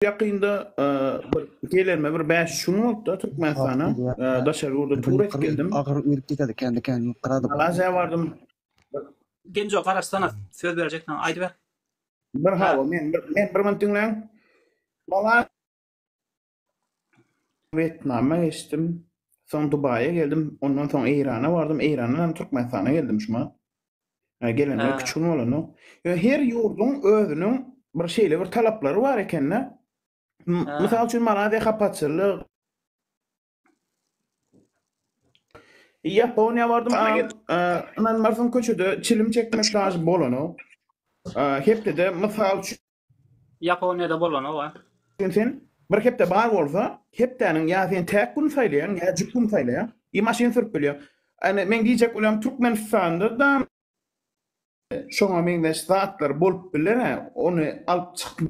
Ýakynda bir gelenme bir bäş-üç gün bolupdyr Türkmenistana. Daşary ýurda tur edip geldim. Malaziýa bardym. Genjo garaşsana söz berjekdiňe aýdy ber. Bir hawa men bir men bir minut diňläň. Mala Wetnama geçdim. Soň Dubaýa geldim. Ondan soň Eýrana bardym. Eýrandan hem Türkmenistana geldim şuma. Hä, gelenler Hä. küçgin bolanok. Ýöne her ýurduň özüniň bir şeýle bir talaplary bar eken-de. M- Hä. Mysal üçin, Malaýziýa hapaçylyk. Ýaponiýa bardym, Bana a, gel. a, ynanmarsyň köçede çilim çekmek daşy bolanok. A, hepdede mysal üçin Ýaponiýada bolanok-a. Ýöne sen bir hepde bar bolsa, hepdäniň ýa sen täk gün saýlaýaň, ýa jüp gün saýlaýaň. I maşyn sürüp bilýäň. Ýöne meň diýjek welem Türkmenistanda-da şoňa meňzeş zatlar bolup biler-ä, ony alyp çykma.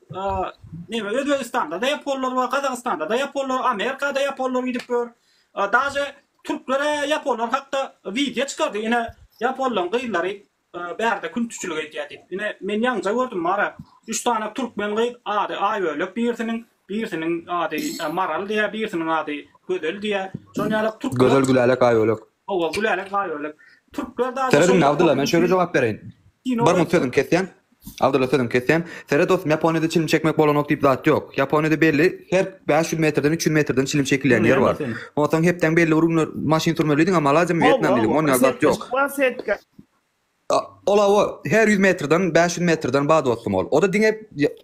Neme Özbegistanda-da ýaponlar bar, Gazagystanda-da ýaponlar, Amerika-da ýaponlar gidip ýör. Daže türkler-ä ýaponlar hakda wideo çykardy. Ine ýaponlaryň gyzlary bärde küntiçilik edýär diýip. Ine men ýaňja gördüm bar-a. Üç sany türkmen gyz ady Aýbölek birisiniň, birisiniň ady Maral diýýär, birisiniň ady Gözel diýýär. Şonuň ýaly türkler Gözel Gülälek Aýbölek. Howwa gülälek gaý görlek. Türkler dagy Seret indi Abdylla men şöyle jogap bereýin. Bir munt sözüňi kesýän. Abdylla sözüňi kesýän. Seret dostum Ýaponiýada çilim çekmek bolanok diýip zat ýok. Ýaponiýada belli her bäş ýüz metrden üç ýüz metrden çilim çekilýän ýer bar. Onsoň hepdäň belli bir günler maşyn sürmelidiň a maladýam Wýetnam diýdiň onda zat ýok. Ol hawa, her ýüz metrden, bäş ýüz metrden bar dostum ol. O-da diňe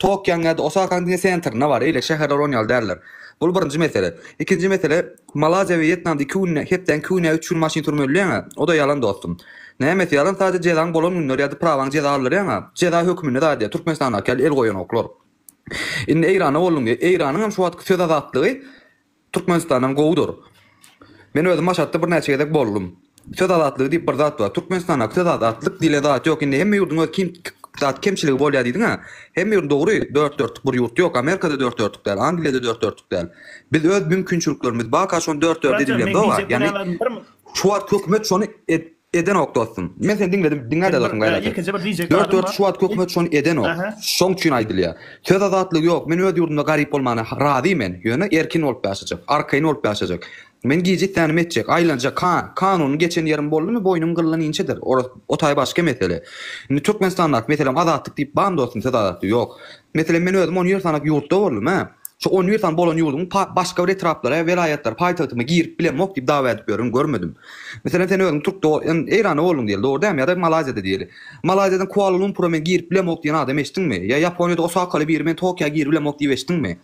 Tokýoň ýa-da Osakaň diňe sentrinde bar, eýle şäherler onuň ýaly däldir. Bul birinji mesele. Ikinji mesele, Malaziýa we Wýetnamda iki günde, hepdäň iki güni ýa üç gün maşyn sürüp öldürýäň-ä. O-da ýalan dostum. Nämesi ýalan, sadýa jezaň bolan günler ýa-da prawaň jeza aldyrýaň-a. Jeza höküminde zadýa, Türkmenistandaky ýaly el goýanoklar. Indi Eýrana bolduň diýýä. Eýranyň hem şu wagtky söz azatlygy, Türkmenistanam gowudyr. Men özüm Maşatda birnäçe gezek boldum. Söz azatlygy diýip bir zat bar. Türkmenistandaky söz azatlyk diýlen zat ýok. Indi hemme ýurduň öz kim zat kemçiligi bolýar diýdiňä. Hemme ýurt dogry dört dörtlük bir ýurt ýok. Amerikada dört dörtlük däl. Angliýada dört dörtlük däl. Biz öz mümkinçiliklerimiz baka şony dört dörde edip bilemzok-a. Ýagny şu wagt hökümet şony Edenok dostum. Men seni diňledim, diňläde dostum gaýraty. Dört dört şu wagt hökümet şony edenok. Şoň üçin aýdylýar. Söz azatlygy ýok. Men öz ýurdumda garyp bolmana razy men. Ýöne erkin bolup ýaşajak. Arkaýyn bolup ýaşajak. Men gije islänim etjek. Aýlanjak. Ka, kanunyň geçen ýerim boldumy boýnuň gyllan inçedir. Oras, o taý başga mesele. Indi Türkmenistandaky meselem azatlyk diýip barmy dostum söz azatlygy ýok. Meselem, men özüm on ýüz sanap ýurtda boldum, hä? Şu on ýüz sany bolan ýurduň başga bir etraplary, welaýatlary, paýtagtymy girip bilemok diýip dawa edip ýörün, görmedim. Meselem, sen özüň türkde, Eýranda bolduň diýeli, dogry dämi? Ýa-da Malaýziýada diýeli. Malaýziýadan Kuala-Lumpura men girip bilemok diýen adam eşitdiňmi? Ýa Ýaponiýada Osakaly biri men Tokiýa girip bilemok diýip eşitdiňmi?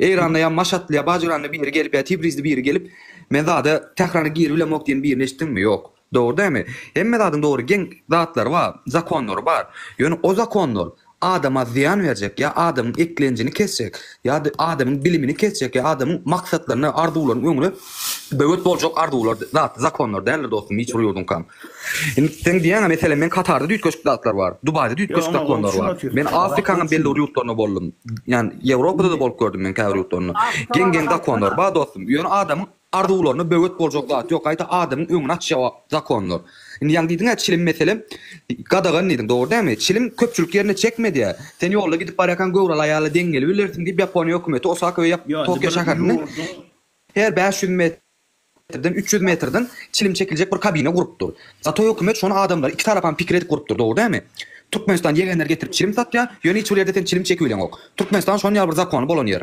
Eýranda ýa Maşatly ýa Bajyranly biri gelip ýa Tibrizli biri gelip men zada Tährana girip bilemok diýen birini eşitdiňmi? Ýok. Dogry dämi? Hemme zadyň dogry geň zatlary bar, zakonlary bar. Ýöne o zakonlar adama zyýan berjek ýa adamyň eklenjini kesjek ýa-da adamyň bilimini kesjek ýa adamyň maksatlaryna, arzuwlaryna öňüne böwet boljak arzuwlar zat, zakonlar däldir dostum hiç bir ýurduňkam. Indi seň diýýäňe meselem men Katarda düýtgeşik zatlar bar, Dubaýda düýtgeşik zakonlar bar. Men Afrikanyň belli bir ýurtlarynda boldum. Ýani Ýewropada-da bolup gördüm men käbir ýurtlarynda. Geň-geň zakonlar bar dostum. Ýöne adamyň Arzuwlaryna böwet boljak zat ýok gaýta adamyň öňüni açýar zakonlar. Indi ýaňy diýdiňä çilim mesele gadagan diýdiň dogry dämi? Çilim köpçülik ýerine çekmedýä. Sen ýolda gidip barýarkaň göwreli aýala deň gelibilersiň diýip Ýaponiýa hökümeti Osaka we Tokio şäherinde her bäş ýüz metrden, üç ýüz metrden çilim çekiljek bir kabina gurupdyr. Zato hökümet şony adamlary iki tarapam pikir edip gurupdyr dogry dämi? Türkmenistan ýegenleri getirip çilim satýar, ýöne hiç bir ýerde sen çilim çekibileňok. Türkmenistan şon ýaly bir zakony bolan ýer.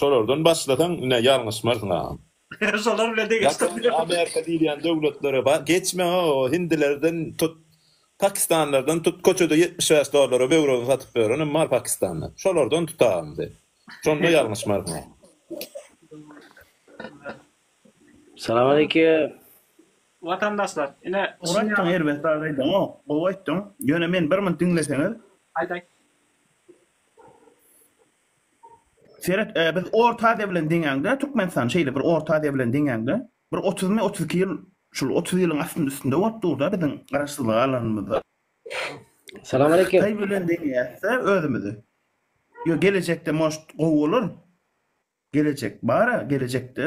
Şolardan başlasaň ine ýalňyşmarsyň agam. Şolar bilen degeşdir. Ýaponiýa Amerika diýilýän döwletlere bar geçme o hindilerden tut pakistanlardan tut köçede ýetmiş bäş dollara böwregini satyp ýörenem bar pakistanda şolardan tut agam sen şonda ýalňyşmarsyň agam. Salam aleýkim. Watandaşlar ine şuny ýa. Muratjan erbet zat aýdaňok gowy aýtdyň ýöne men bir munt diňleseňiz. Aýt aýt. Seret, biz Orta Aziýa bilen deňäňde, Türkmenistan şeýle bir Orta Aziýa bilen deňäňde, bir otuzmy, otuz iki ýyl, şul otuz ýylyň astynda-üstünde bolup dur-da biziň Garaşsyzlygy alanymyzda. Salam aleýkim. Hytaý bilen deňeýäs-de özümizi. Ýo, gelejekde, может, gowy bolar. Gelejek bar-a, gelejekde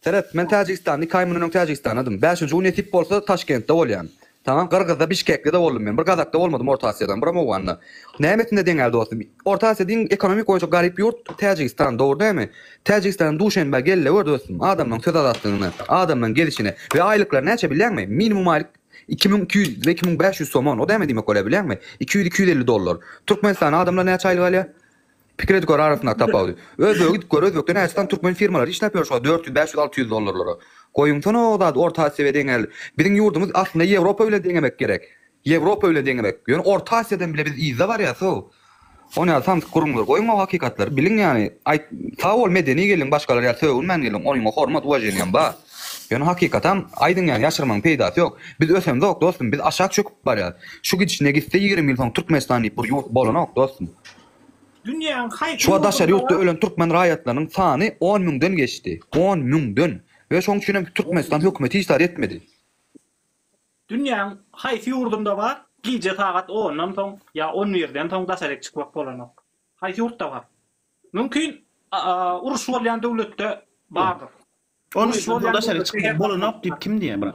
Seret, men Täjigistanda iki aý mundan öň Täjigistanadym. Bäşinji gün nesip bolsa Taşkentde bolýan. Tamam, Gyrgyzda, Bişkekde-de boldum men. Bir Gazakda bolmadym, Orta Asiýadan, biram Owganda. Nämesinde deňäl dostum? Orta Asiýa diýiň, ekonomik boýunça garyp ýurt Täjigistan, dogry dämi? Täjigistana Duşenbä gel-le gör dostum, adamlaryň söz azatlygyny, adamlaryň gelişini. We aýlyklary näçe bilýäňmi? Minimum aýlyk iki müň iki ýüz we iki müň bäş ýüz somon, o näme diýmek bolýar bilýäňmi? Iki ýüz-iki ýüz elli dollar. Türkmenistanda adamlar näçe aýlyk alýar? Pikir edip gör arasyndaky tapawudy. Özbege gidip gör, özbekde näçesan türkmen firmalary işläp ýör şuňa dört ýüz, beş ýüz, alty ýüz dollarlara. Goýuňsana o zady orta Asiýa deňäl. Biziň ýurdumyz aslynda Ýewropa bilen deňemek gerek. Ýewropa bilen deňemek. Ýöne orta Asiýadan bile biz yzda barýas how. Ony ýaly samsyk gürrüňleri goýuň o hakykatlary biliň ýani aýt sag bol medeni geliň başgalar ýaly sögünmän geliň oýňa hormat uwaženiýam bar. Ýöne hakykatam aýdyň ýani ýaşyrmaň peýdasy ýok. Biz ösemzok dostum biz aşak çöküp barýas. Şu gidişine gitse ýigrimi ýyl soň Türkmenistan diýip bir ýurt bolanok dostum. Şuwagt daşary ýurtda ölen türkmen raýatlarynyň sany on müňden geçdi. On müňden! We şoň üçin hem Türkmenistan hökümeti hiç zat etmedi. Dünýäň haýsy ýurdunda bar, gije sagat ondan soň ýa on birden soň daşaryk çykmak bolanok? Haýsy ýurtda bar? Mümkin, uruş bolýan döwletde bardyr. On birden soň daşaryk çykmak bolanok diýip kim diýýär, brat?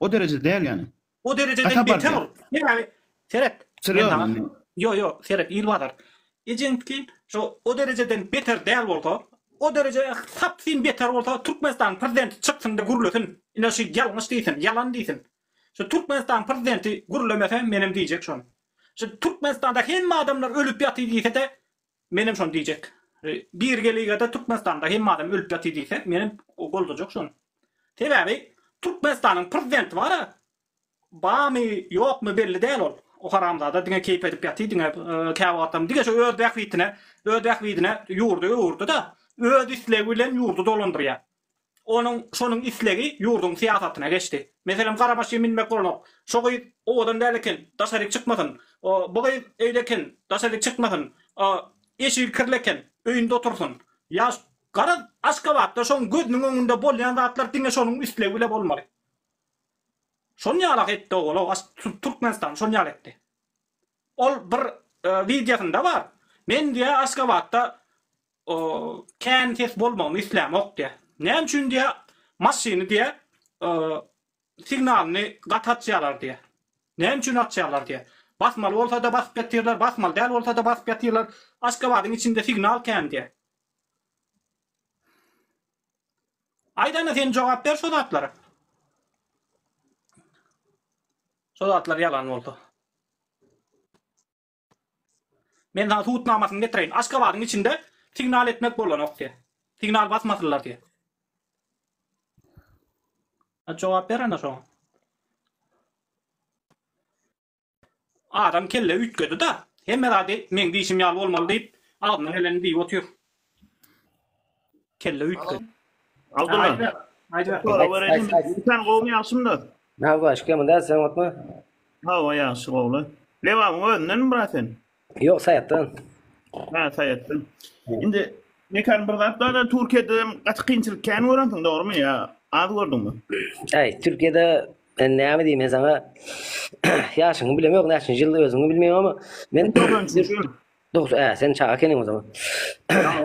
O derejede däl ýani. O derejeden beter ol. Sebäbi seret. Ýo ýo seret il bazar. Ejeňki şo o derejeden beter däl bolsa, o dereje sapsyn beter bolsa Türkmenistanyň prezidenti çyksynda gürlesin. Ine şu ýalňyş diýsin, ýalan diýsin. Şu Türkmenistanyň prezidenti gürlemese menem diýjek şony. Şu Türkmenistanda hemme adamlar ölüp ýatyr diýsede Menem şony diýjek. Birgeligede Türkmenistanda hemme adam ölüp ýatyr diýse, menem goldajak şony. Sebäbi Türkmenistanyň prezidenti bar-a, barmy, ýokmy belli däl ol. O haramzada diňe keýp edip ýatyr, diňe käwagtam diňe şo öz bähbitine, öz bähbidine ýurdy öwürdi-de, öz islegi bilen ýurdy dolandyrýar. Onuň şonuň islegi ýurduň syýasatyna geçdi. Meselem, gara maşyn minmek bolanok. Şo gyz owadan däl eken, daşaryk çykmasyn. Bu gyz öýde eken, daşaryk çykmasyn. Eşigi kirli eken, öýünde otursyn. Ýa, garaz, Aşgabatda şoň gözüniň öňünde bolýan zatlar diňe şonuň islegi bile bolmaly. Şon ýala-ha etdi owal-ow, Türkmenistan şon ýaly etdi. Ol bir wideosynda bar. Men diýýär Aşgabatda kän ses bolmagyny islämok diýýär. Näme üçin diýýär maşyny diýýär signalyny gaty açýarlar diýýär. Näme üçin açýarlar diýýär. Basmaly bolsada basyp ýatyrlar, basmaly däl bolsada basyp ýatyrlar. Aşgabadyň içinde signal kän diýýär. Aýdana sen jogap ber şo zatlara. Şo zatlar ýalan bolsa. Men sana subutnamasyny getireýin. Aşgabadyň içinde signal etmek bolanok diýip. Signal basmasynlar diýip. A jogap ber anda şoňa. Adam kelle üýtgedi da. Hemme zady meň diýşim ýaly bolmaly diýip, agzyna geleni diýip otyr. Kelle üýtge. Abdylla. Aýda. Aýda. Sora berelim. Sen gowy ýagşymda. Näme baş kemi däl sen otma. Ha o ýagşy gowly. Lewa özünden mi brat sen? Ýok saýatdan. Ha saýatdan. Indi Mekan bir zat da Türkiýede gaty kynçylyk kän görensiň dogrumy ýa az gördüňmi? Aý Türkiýede ben näme diýim men saňa ýaşyňy bilemok näçinji ýylda özüňi bilmeýin ama men 93 Dogusy ää sen çaga ekeniň o zaman.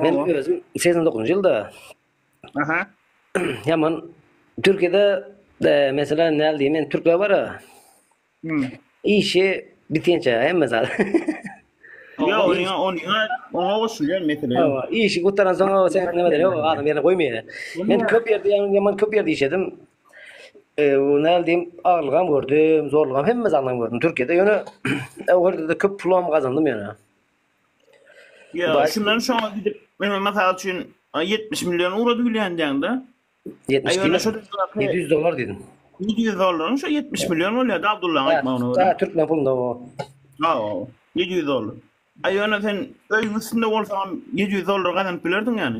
Men özüm 89-njy ýylda. Aha. Ýaman Türkiýede e, mesela näl diýim men türkler bara Hmm. işi bitençe hemme zat. Ýa ony ony oňa goşulýar mesele. ýok. Hawa, işi gutaran soň o sen nima diýip adam ýerine goýmaýar. Men köp ýerde ýaman köp ýerde işledim. Eee, näme diýim, agyrlygam gördüm, zorlugam, hemme zadyňam gördüm Türkiýede. Ýöne o ýerde-de köp pulam gazandym ýöne. Ýa, Baş- şundan şoňa gidip, men mysal üçin, a, 70 million urady bilýändiň-de. 70 Aýwana diýme. şu dildaky- 700 dollar diýdim. 700 dollaryň şu 70 million bolýardy Abdullaň aýtmagyna görä. Ha, türkmen pulunda o. Ha, o, 700 dollar. Aýwana sen öýüň üstünde bolsaňam 700 dollar gazanyp bilerdiň ýany.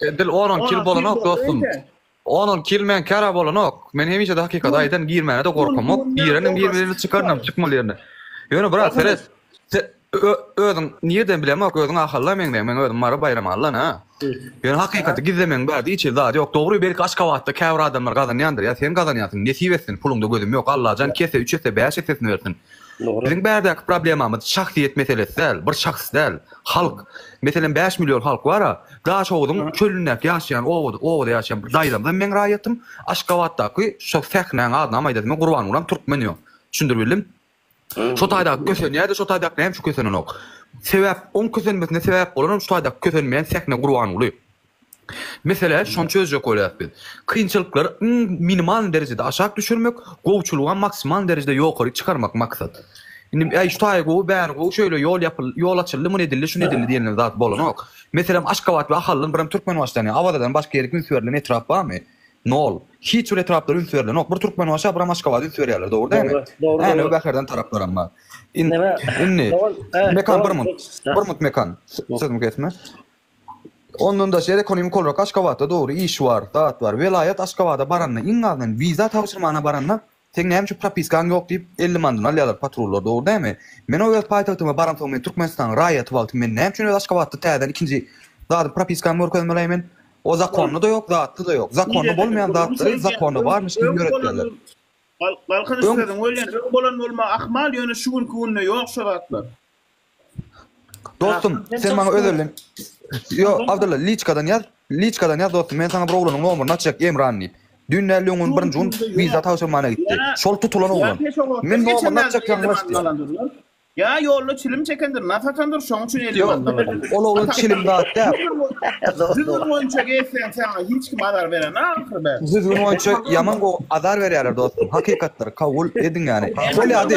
Edil 10 kil bolanok dostum. 10 kil men kara bolanok. Men hemişe de hakykat aýdan girmäne de gorkamok. Gireniň girmelerini çykarnam çykmaly ýerine. Ýöne brat seret. Özüň nirden bilemok özüň ahalla meňden men özüm mary baýram allan ha. Ýöne hakykaty gizlemeň bäde hiç hil zat ýok. Dogry belki aşkabatda käbir adamlar gazanýandyr ýa sen gazanýasyň nesip etsin puluňda gözüm ýok Allajan kese üç ese bäş esesini bersin. Biziň bärdäki problemamyz şahsyýet meselesi däl bir şahs däl. Halk, meselem, bäş million halk bar-a, Daşoguzyň çölündäki ýaşaýan obada, obada ýaşaýan bir daýzamyzam meň raýatym, Aşgabatdaky şo sähnäň adynam aýdasym ýok, Gurbangulam türkmen ýok. Düşündirip bildim? Şo taýdaky kösenýä-de, şo taýdakyna hem şu kösenenok. Sebäp, oň kösenmesine sebäp bolanam şu taýdaky kösenmeýän sähne Gurbanguly. Meselä şony çözjek bolýarys biz. Kynçylyklary iň minimalny derejede aşak düşürmek, gowuçylyga maksimalny derejede ýokary çykarmak maksat. Indi äý şu taýy gowy, bäri gowy, şeýle ýol ýapyldy, ýol açyldy, muny edildi, şuny edildi diýenilen zat bolanok. Meselem Aşgabat we Ahaldan birem Türkmenbaşdan ýa Awazadan başga ýerik üns berlen etrap barmy? Nol. Hiç bir etraplar üns berlenok. Bir Türkmenbaşa birem Aşgabada üns berýärler, dogry dälmi? Änew Bäherden taraplaram bar. Indi Mekan bir minut. Bir minut Mekan. Sözümi kesme. Ondan daşary ekonomik olarak Aşgabatda dogry iş bar, zat bar. Welaýat Aşgabada baranda iň azyndan wiza tabşyrmana baranda seň näme üçin propiskaň ýok diýip elli mandan alýarlar patrullar dogry dämi? Men o öz paýtagtyma baransoň men Türkmenistanyň raýaty wagty men näme üçin öz Aşgabatda täzeden ikinji zady propiskamy görkezmeleý men? O zakonda-da ýok zatda-da ýok. Zakonda bolmaýan zatlary zakonda barmyş kimin ýöretýärler. Galkynyş sözüň welin öň bolan bolmagy ahmal ýöne şu günki günde ýok şo zatlar. Dostum, Rahmet sen maňa olsun. özelden Yo, Rahmet Abdylla, liçkadan ýaz. Liçkadan ýaz dostum. Men saňa bir oglanyň nomerini açjak Emran diýip. Dün däl-de öňňün birinji gün Dur, dur, wiza ýok. tabşyrmana gitdi. Ýa- Şol tutulan oglan. Ýa pes oglap, Men bir geçen nomerini açjak ýaňylaş diýip. ýazymandalandyrlar. Ýa ýolda çilim çekendir, nas atandyr, şoň üçin elli Yo, mandan alandyr. ol oglan çilim zat däl. Düzgün boýunça gezseň saňa hiç kim azar beren ahyry be. Düzgün boýunça ýaman gowy azar berýärler dostum. Hakykatdyr, kabul ediň ýany. Bolýa di.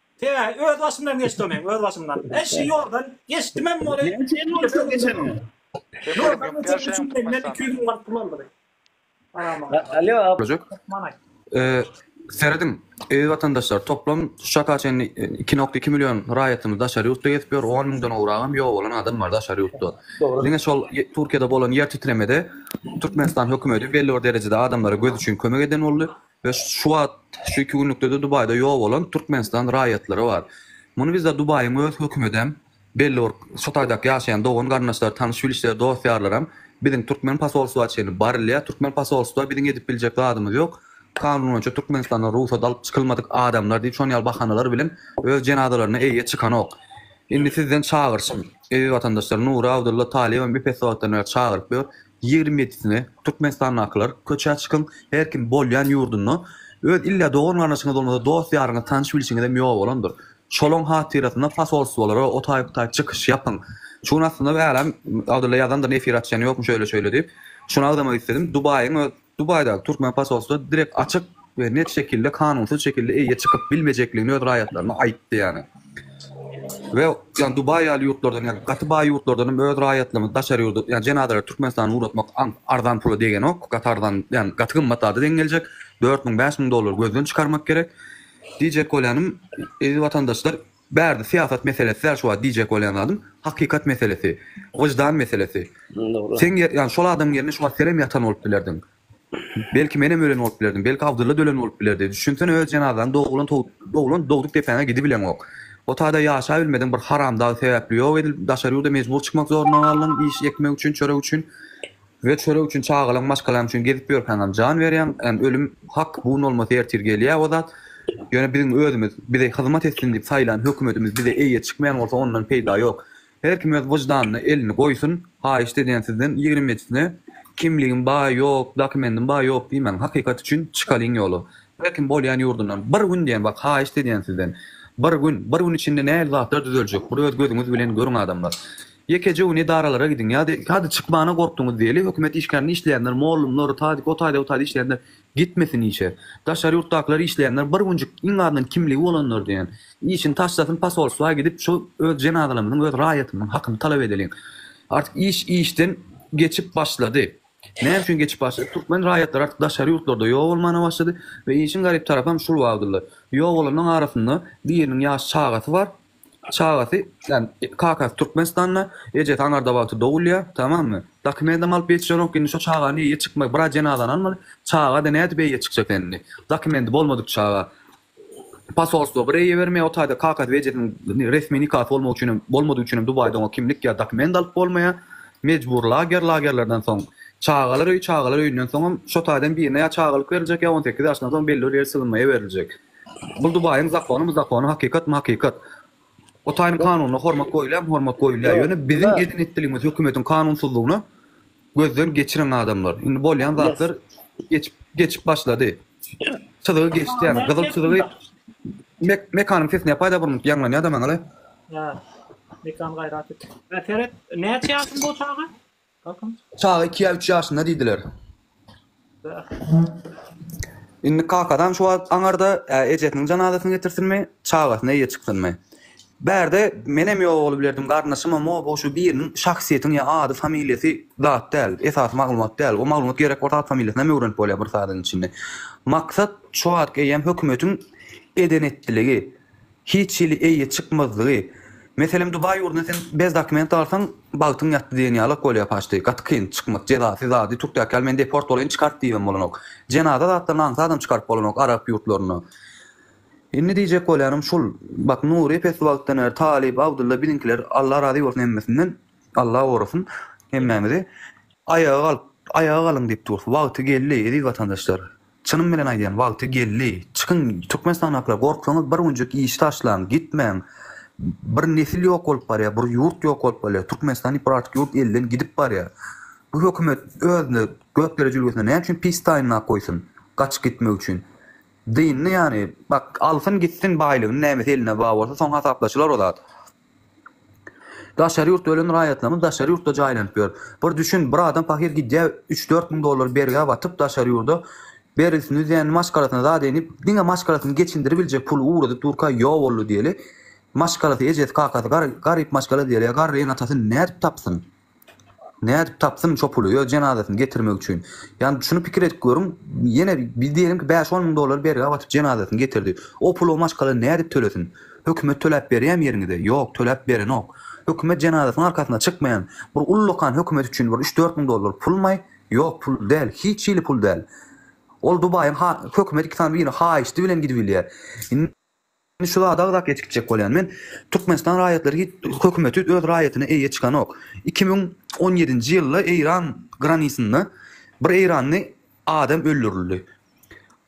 He, öz başymdan geçdi o meň, öz başymdan. He, şu ýoldan geçdimem ony. Näme üçin ýol üstünden geçeniňi? Ýoldan geçenim üçin menden iki ýüz müň manat pul aldylar. Alýo, ap. Böjek. Serediň, eziz watandaşlar, toplam şu çaka çenli iki nokta iki million raýatymyz daşary ýurtda gezip ýör, on müňden gowragam ýok bolan adam bar daşary ýurtda. Diňe şol Türkiýede bolan ýer titremede Türkmenistan hökümeti belli bir derejede adamlara göz üçin kömek eden boldy. We şu wagt, şu iki günlükde-de Dubaýda ýok bolan Türkmenistan raýatlary bar. Muny bizde Dubaýyň öz hökümedem, belli bir şu taýdaky ýaşaýan dogan-garyndaşlar, tanyş-bilişler, dost-ýarlaram biziň türkmen posolstwa çenli barilýär. Türkmen posolstwa biziň edip biljek zadymyz ýok. Kanun boýunça Türkmenistandan rugsat alyp çykylmadyk adamlar diýip şon ýaly bahanalar bilen öz jenazalaryna eýýe çykanok. Indi sizden çagyryşym, eziz watandaşlar, Nury Abdulla Talyýewem epeswagtdan bäri çagyryp ýör. Ýigrimi ýedisine Türkmenistandakylar köçä çykyň, her kim bolýan ýurdunda öz illa dogan-garyndaşyňyz bolmasa dost-ýaryňyz, tanyş-bilşiňizem ýok bolandyr. Şolaň hatyrasyna posolstwolara otaýyp-otaýyp çykyş ýapyň. Şu gün aslynda äläm Abdylla ýazandyr efir açýan ýokmy şöýle-şöýle diýip. Şuny agzamak isledim. Dubaýyň öz Dubaýdaky türkmen posolstwasy direkt açyk we net şekilde kanunsyz şekilde eýýe çykyp bilmejekligini öz raýatlaryna aýtdy ýani. We ýani Dubaý ýaly ýurtlardan ýani gaty baý ýurtlardan hem öz raýatlaryny daşary ýurda ýani jenazalary Türkmenistana ugratmak arzan pula degenok gaty arzan ýani gaty gymmat zada deň geljek dört müň bäş müň dollar gözden çykarmak gerek diýjek bolýanym eziz watandaşlar Bärde syýasat meselesi däl şu wagt diýjek bolýan zadym, hakykat meselesi, wyždan meselesi. Seň ýer, ýagny şol adamyň ýerinde şu wagt senem ýatan bolup bilerdiň. Belki menem ölen bolup bilerdim, belki Abdylla da ölen bolup bilerdi. Düşünsene öz jenazaň doglan to, doglan dogduk depäňe gidibileňok. O taýda ýaşabilmediň bir haramdag sebäpli ýok edilip daşary ýurda mejbur çykmak zoruna galdyň iş ekmek üçin, çörek üçin. We çörek üçin çagalaň maşgalaň üçin gezip ýörkäňem jan berýäň and ölüm hak bu nolmasy ertir gelýä o zat ýöne biziň özümiz bize hyzmat etsin diýip saýlan hökümetimiz bize eýe çykmaýan bolsa ondan peýda ýok her kim öz wyždanyna elini goýsun haýyşt edýän sizden ýigriminjisine kimligim ba ýok dakimendim ba ýok diýmäň hakykat üçin çykalyň ýola her kim bolýan ýurdundan bir gün diýen bak haýyşt edýän sizden bir gün bir gün içinde nähili zatlar düzeljek bir öz gözüňiz bilen görüň adamlar Ýekeje gün edaralara gidiň ýa-da hadi çykmana gorkduňyz diýeli, hökümet işgärinde işleýänler, mollumlar, tadik o taýda bu taýda işleýänler gitmesin işe. Daşary ýurtdakylar işleýänler bir günjük iň azyndan kimligi bolanlar diýen, işini taşlasyn posolstwa gidip şu öz jenazalarymyzyň, öz raýatymyzyň hakyny talap edeliň. Artyk iş işden geçip başlady. Näme üçin geçip başlady? Türkmen raýatlary artyk daşary ýurtlarda ýok bolmana başlady we işiň garyp tarapam şul Abdylla. Ýok bolanlaryň arasynda biriniň ýaş çagasy bar, Çagasy, ýagny kakasy Türkmenistanda, ejesi Aňardabagda dogulýar, tamamy. Dokumentam alyp ýetişenok, indi şo çagany eýe çykmaly, bir aý jenazany almaly, çaga-da nädip eýe çykjak indi? Dokumenti bolmadyk çaga. Posolstwo bir eýe bermeýär, o taýda kakasy we ejesiniň resmi nikasy bolmagy üçin hem, bolmadygy üçin hem Dubaýda oňa kimlik ýa dokument alyp bolmaýar. Mejbury lager, lagerlerden soň çagalar öýi, çagalar öýünden soňam şo taýdan birine ýa çagalyk beriljek ýa on sekiz ýaşyndan soň belli bir ýer sygynmaýa beriljek. Bul Dubaýyň zakonymy zakony hakykatmy hakykat. O taýyň kanunyna hormat goýulýamy hormat goýulýa ýöne biziň edin etdiligimiz hökümetiň kanunsyzlygyny gözden geçiriň adamlar indi bolýan zatlar geçip geçip başlady çyzygy geçdi ýaly gyzyl çyzygy mek mekanyň sesi ne paýda burnuňk ýaňlanýa da maňa le. Ýa mekan gaýrat et. Seret näçe ýaşyň bu çaga? Çaga iki ýa üç ýaşynda diýdiler. Indi kakadan şu wagt aňarda ejesiniň janazasyny getirsinmi, çagasyny eýe çyksynmy? Bärde menem ýok ogly bilerdim, garyndaşymam o, bu şu biriniň şahsyýetiň ýa ady, familiýasy zat däl, esasy maglumat däl. O maglumat gerek bolsa at familiýasyny hem öwrenip bolýar bir sadyň içinde. Maksat şu wagt eýýäm hökümetiň eden-etdiligi. Hiç hili eýe çykmazlygy. Meselem Dubaý ýurduna sen bez dokument alsaň bagtyň ýatdy diýen ýalak bolýar paçty. Gaty kyn çykmak jezasyz ady türkdäki ýaly men deport bolaýyn çykart diýibem bolanok. Jenaza zatlaryny aňsadam çykaryp bolanok arap ýurtlarynda. Indi diýjek bolýanym şul bak Nury epesli wagtdan bäri talyp Abdylla biziňkiler Allah razy bolsun hemmesinden Allah gorasyn hemmämizi aýaga galyp aýaga galyň diýip durus wagty geldi eziz watandaşlar. Çynym bilen aýdýan wagty geldi. Çykyň Türkmenistandakylar gorksaňyz bir günjük işi taşlaň gitmäň bir nesil ýok bolup barýar bir ýurt ýok bolup barýar Türkmenistan diýip bir artyk ýurt elden gidip barýar bu hökümet özüne gökdere jülgesine näme üçin pis taýynlap goýsun gaçyp gitmek üçin dynny ýany bak alsyn gitsin baýlygyny nämesi eline baý bolsa soň hasaplaşylar o zat. Daşary ýurtda ölen raýatlarymyz daşary ýurtda jaýlanyp ýör. Bir düşün bir adam pahyr gidýä üç dört müň dollar bergä batyp daşary ýurda bergisini üzýän maşgalasyna zat edinip diňe maşgalasyny geçindiribiljek puly ugradyp durka ýok boldy diýeli maşgalasy ejesi kakasy garyp maşgala diýeli garry ene atasyn nädip tapsyn. Nädip tapsyn şo puly öz jenazasyny getirmek üçin. Ýani şuny pikir edip görüň, ýene biz diýelim ki bäş-on müň dollar bergä batyp jenazasyny getirdi. O puly maşgala nädip tölesin? Hökümet töläp berýämi ýeriňize? Ýok, töläp berenok. Hökümet jenazasynyň arkasyna çykmaýan bir ullakan hökümet üçin bir üç-dört müň dollar pulmaý? Ýok, pul däl, hiç hili pul däl. Ol Dubaýyň ha, hökümet iki sany birini haýyşdy bilen gidibilýär. Indi. Indi şu zady agzap geçgitjek bolýan men, Türkmenistan raýatlary hiç hökümeti öz raýatyna eýe çykanok. Iki müň on ýedinji ýylda Eýran granisynda bir eýranly adam öldürildi.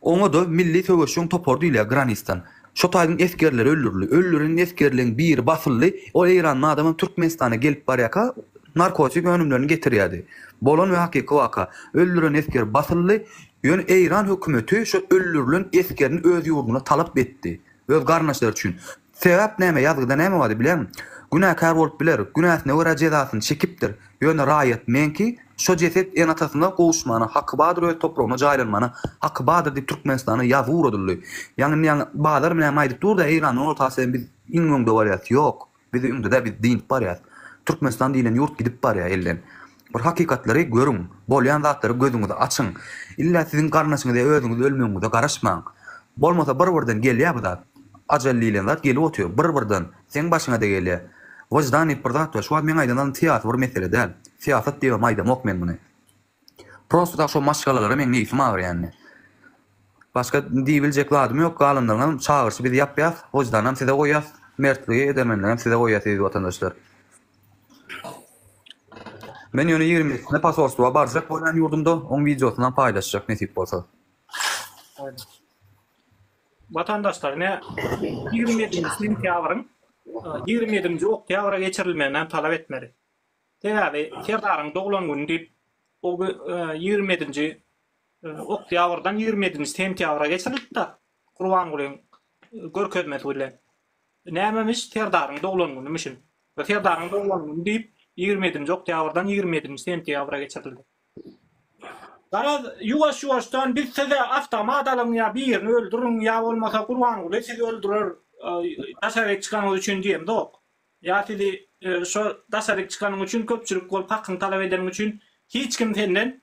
Oňada milli söweşiň topary diýilýär granisdan. Şo taýyň esgerleri öldürildi. Öldürilen esgerleň biri basyldy. Ol eýranly adamam Türkmenistana gelip barýarka narkotik önümlerini getirýärdi. Bolan we hakyky waka. Öldürilen esger basyldy. Ýöne Eýran hökümeti şo öldürilen esgerini öz ýurduna talap etdi. Öz garyndaşlary üçin. Sebäp näme, ýazgyda näme bardy bilýäňmi? Günäkär bolup biler, günäsine görä jezasyny çekipdir. Ýöne raýat meňki, şo jeset enatasyna gowuşmana haky badyr öz topragyna jaýlanmana haky badyr diýip Türkmenistana ýazgy ugradyldy. Ýaňy indi ýaňy bazar näme aýdyp durda Eýrandan orta Asyýadan biz iň öňde barýas. Ýok. Bizi ündüdä biz dynip barýas. Türkmenistan diýlen ýurt gidip barýa elden. Bir hakykatlary görüň. Bolýan zatlary gözüňizi açyň. Illa siziň garnaşyňyzya özüňiz ölmegiňize garaşmaň. Bolmasa bir birden gelýä bu zat. Ajal diýlen zat gelip otyr. Bir birden. Seň başyňada gelýä. Wyždan diýip bir zat bar. Şu wagt meň aýdan zalym syýasy bir mesele däl. Syýasat diýibem aýdamok men muny. Prosta da şo maşgalalara meň neýsim agyrýandy. Başga diýibiljek zadym ýok, galanlaryňam çagyryşy biz ýapýas, wyždanam size goýýas, mertligi, edermenligem size goýýas eziz watandaşlar. Men ýöne ýigrimi ýedisine posolstwa barjak bolýan ýurdumda oň wideosynam paýlaşjak nesip bolsa. Watandaşlar ine ýigrimi ýedinji sentýabryň ýigrimi ýedinji oktýabra geçirilmeginem talap etmeli. Sebäbi Serdaryň doglan güni diýip, o gün ýigrimi ýedinji oktýabrdan ýigrimi ýedinji sentýabra geçirilipdir, Gurbangulyň görkezmesi bilen. Nämemiş, Serdaryň doglan günümüşin. We Serdaryň doglan güni diýip, ýigrimi ýedinji oktýabrdan ýigrimi ýedinji sentýabra geçirildi. Garaz, ýuwaş-ýuwaşdan biz size awtomat alyň ýa birini öldüriň, ýa bolmasa Gurbanguly sizi öldürer, daşaryk çykanyňyz üçin diýemzok. Ýa sizi şo daşaryk çykanyň üçin köpçülik bolup hakyňy talap edeniň üçin hiç kim senden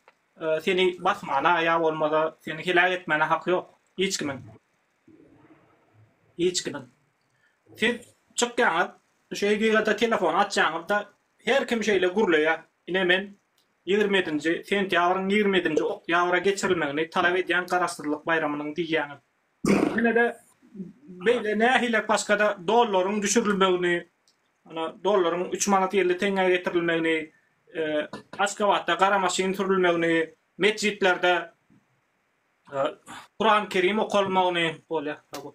seni basmana ýa bolmasa seni heläk etmäne haky ýok hiç kimiň hiç kimiň siz çykýaňyz şu hekigata telefon açýaňyzda her kim şeýle gürleýä ine men ýigrimi ýedinji sentýabryň ýigrimi ýedinji oktýabra geçirilmegini talap edýän garaşsyzlyk baýramynyň diýýäňiz Ýene-de beýle nähilek başga-da dollaryň düşürilmegini, ana, dollaryň üç manat elli teňňä getirilmegini, Aşgabatda gara maşyn sürülmegini, metjitlerde Kuran Kerim okalmagyny, bolýa, sag bol.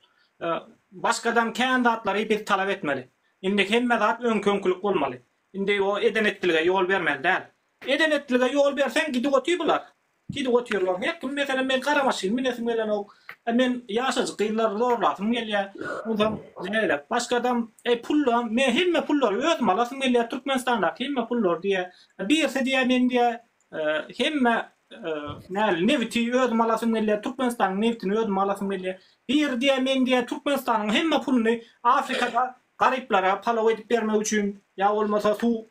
Başgadan kän zatlary biz talap etmeli. Indi hemme zat öňki-öňkülik bolmaly. Indi o eden-etdilige ýol bermeli däl. Eden-etdilige ýol berseň gidip otyr bular. Gidip otyrlar. Hek kim meselem men gara maşyn minesim gelenok. E men ýaşajyk gyzlary zorlasym gelýä. Onsoň näderek başga adam eý pulla men hemme pullary özüm alasym gelýä Türkmenistandaky hemme pullary diýä. Birisi diýä men diýä hemme näl nebiti özüm alasym gelýä Türkmenistanyň nebitini özüm alasym gelýä. Biri diýä men diýä Türkmenistanyň hemme puluny Afrikada garyplara palaw edip bermek üçin ýa bolmasa suw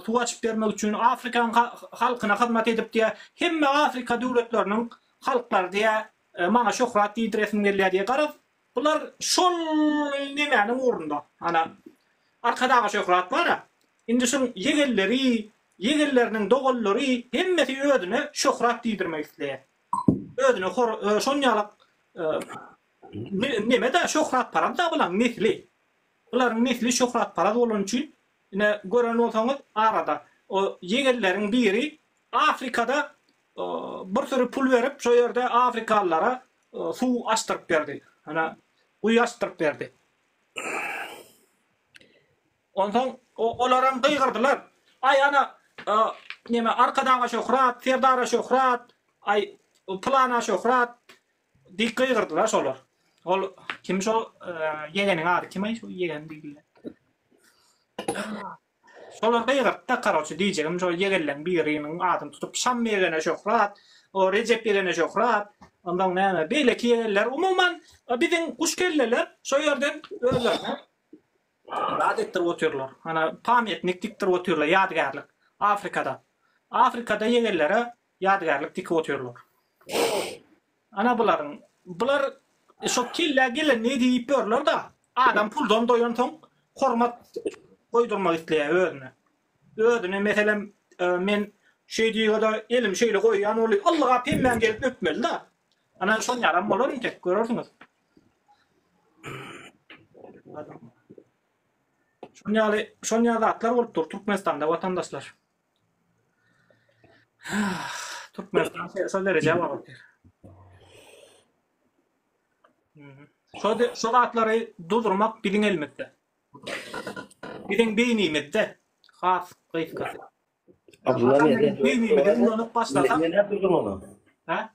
suw açyp bermek üçin afrikan halkyna hyzmat edip diýä hemme afrika döwletleriniň halklary diýä maňa şöhrat diýdiresim gelýä diýä garaz bular şol nemäniň ugrunda ana arkadaga şöhrat bara indi şuň ýegenleri ýegenleriniň dogallary hemmesi özüne şöhrat diýdirmek isleýä özüne hor şon ýalak neme da şöhrat paraz da bulaň nesli bularyň nesli şöhrat paraz bolan üçin Ine, gören bolsaňyz, arada o ýegenleriň biri Afrikada bir süri pul berip, şo ýerde afrikalylara suw açdyryp berdi. Ana, guýy açdyryp berdi. Onsoň olaram gygyrdylar. Aý, ana, neme, Arkadaga şöhrat, Serdara şöhrat, aý, pylana şöhrat, Diýip gygyrdylar şolar. Ol kim şo ýegeniň ady kim-aý şo ýegen diýdiler. Şolar gygyrtdy karoçe diýjegim şo ýegenleň biriniň adyny tutup Şam ýegene şöhrat, o Rejep ýegene şöhrat, ondan näme beýleki ýegenler umuman biziň guş kelleler şo ýerden özlerine zat etdirip otyrlar. Ana pamýetnik dikdirip otyrlar ýadygärlik Afrikada. Afrikada ýegenlere Ýadygärlik tikip otyrlar. Ana bularyň. Bular şo kellä gelenini diýip ýörler-da. Adam puldan doýansoň hormat goýdurmak isleýär özüne. Özüne meselem men şeýdiga-da elimi şeýle goýýan bolýa. Ylga pemmäň gelip öpmeli-da. Ana şon ýalam bolar entek görersiňiz. Şon ýaly, şon ýaly zatlar bolup dur Türkmenistanda watandaşlar. Türkmenistan şol derejä barypdyr. Şo şo zatlary durdurmak biziň elimizde. Biziň beýnimizde has gysga. Abdullah Beýnimizde ulanmak başlasak. Ne durdurmaly? Ha?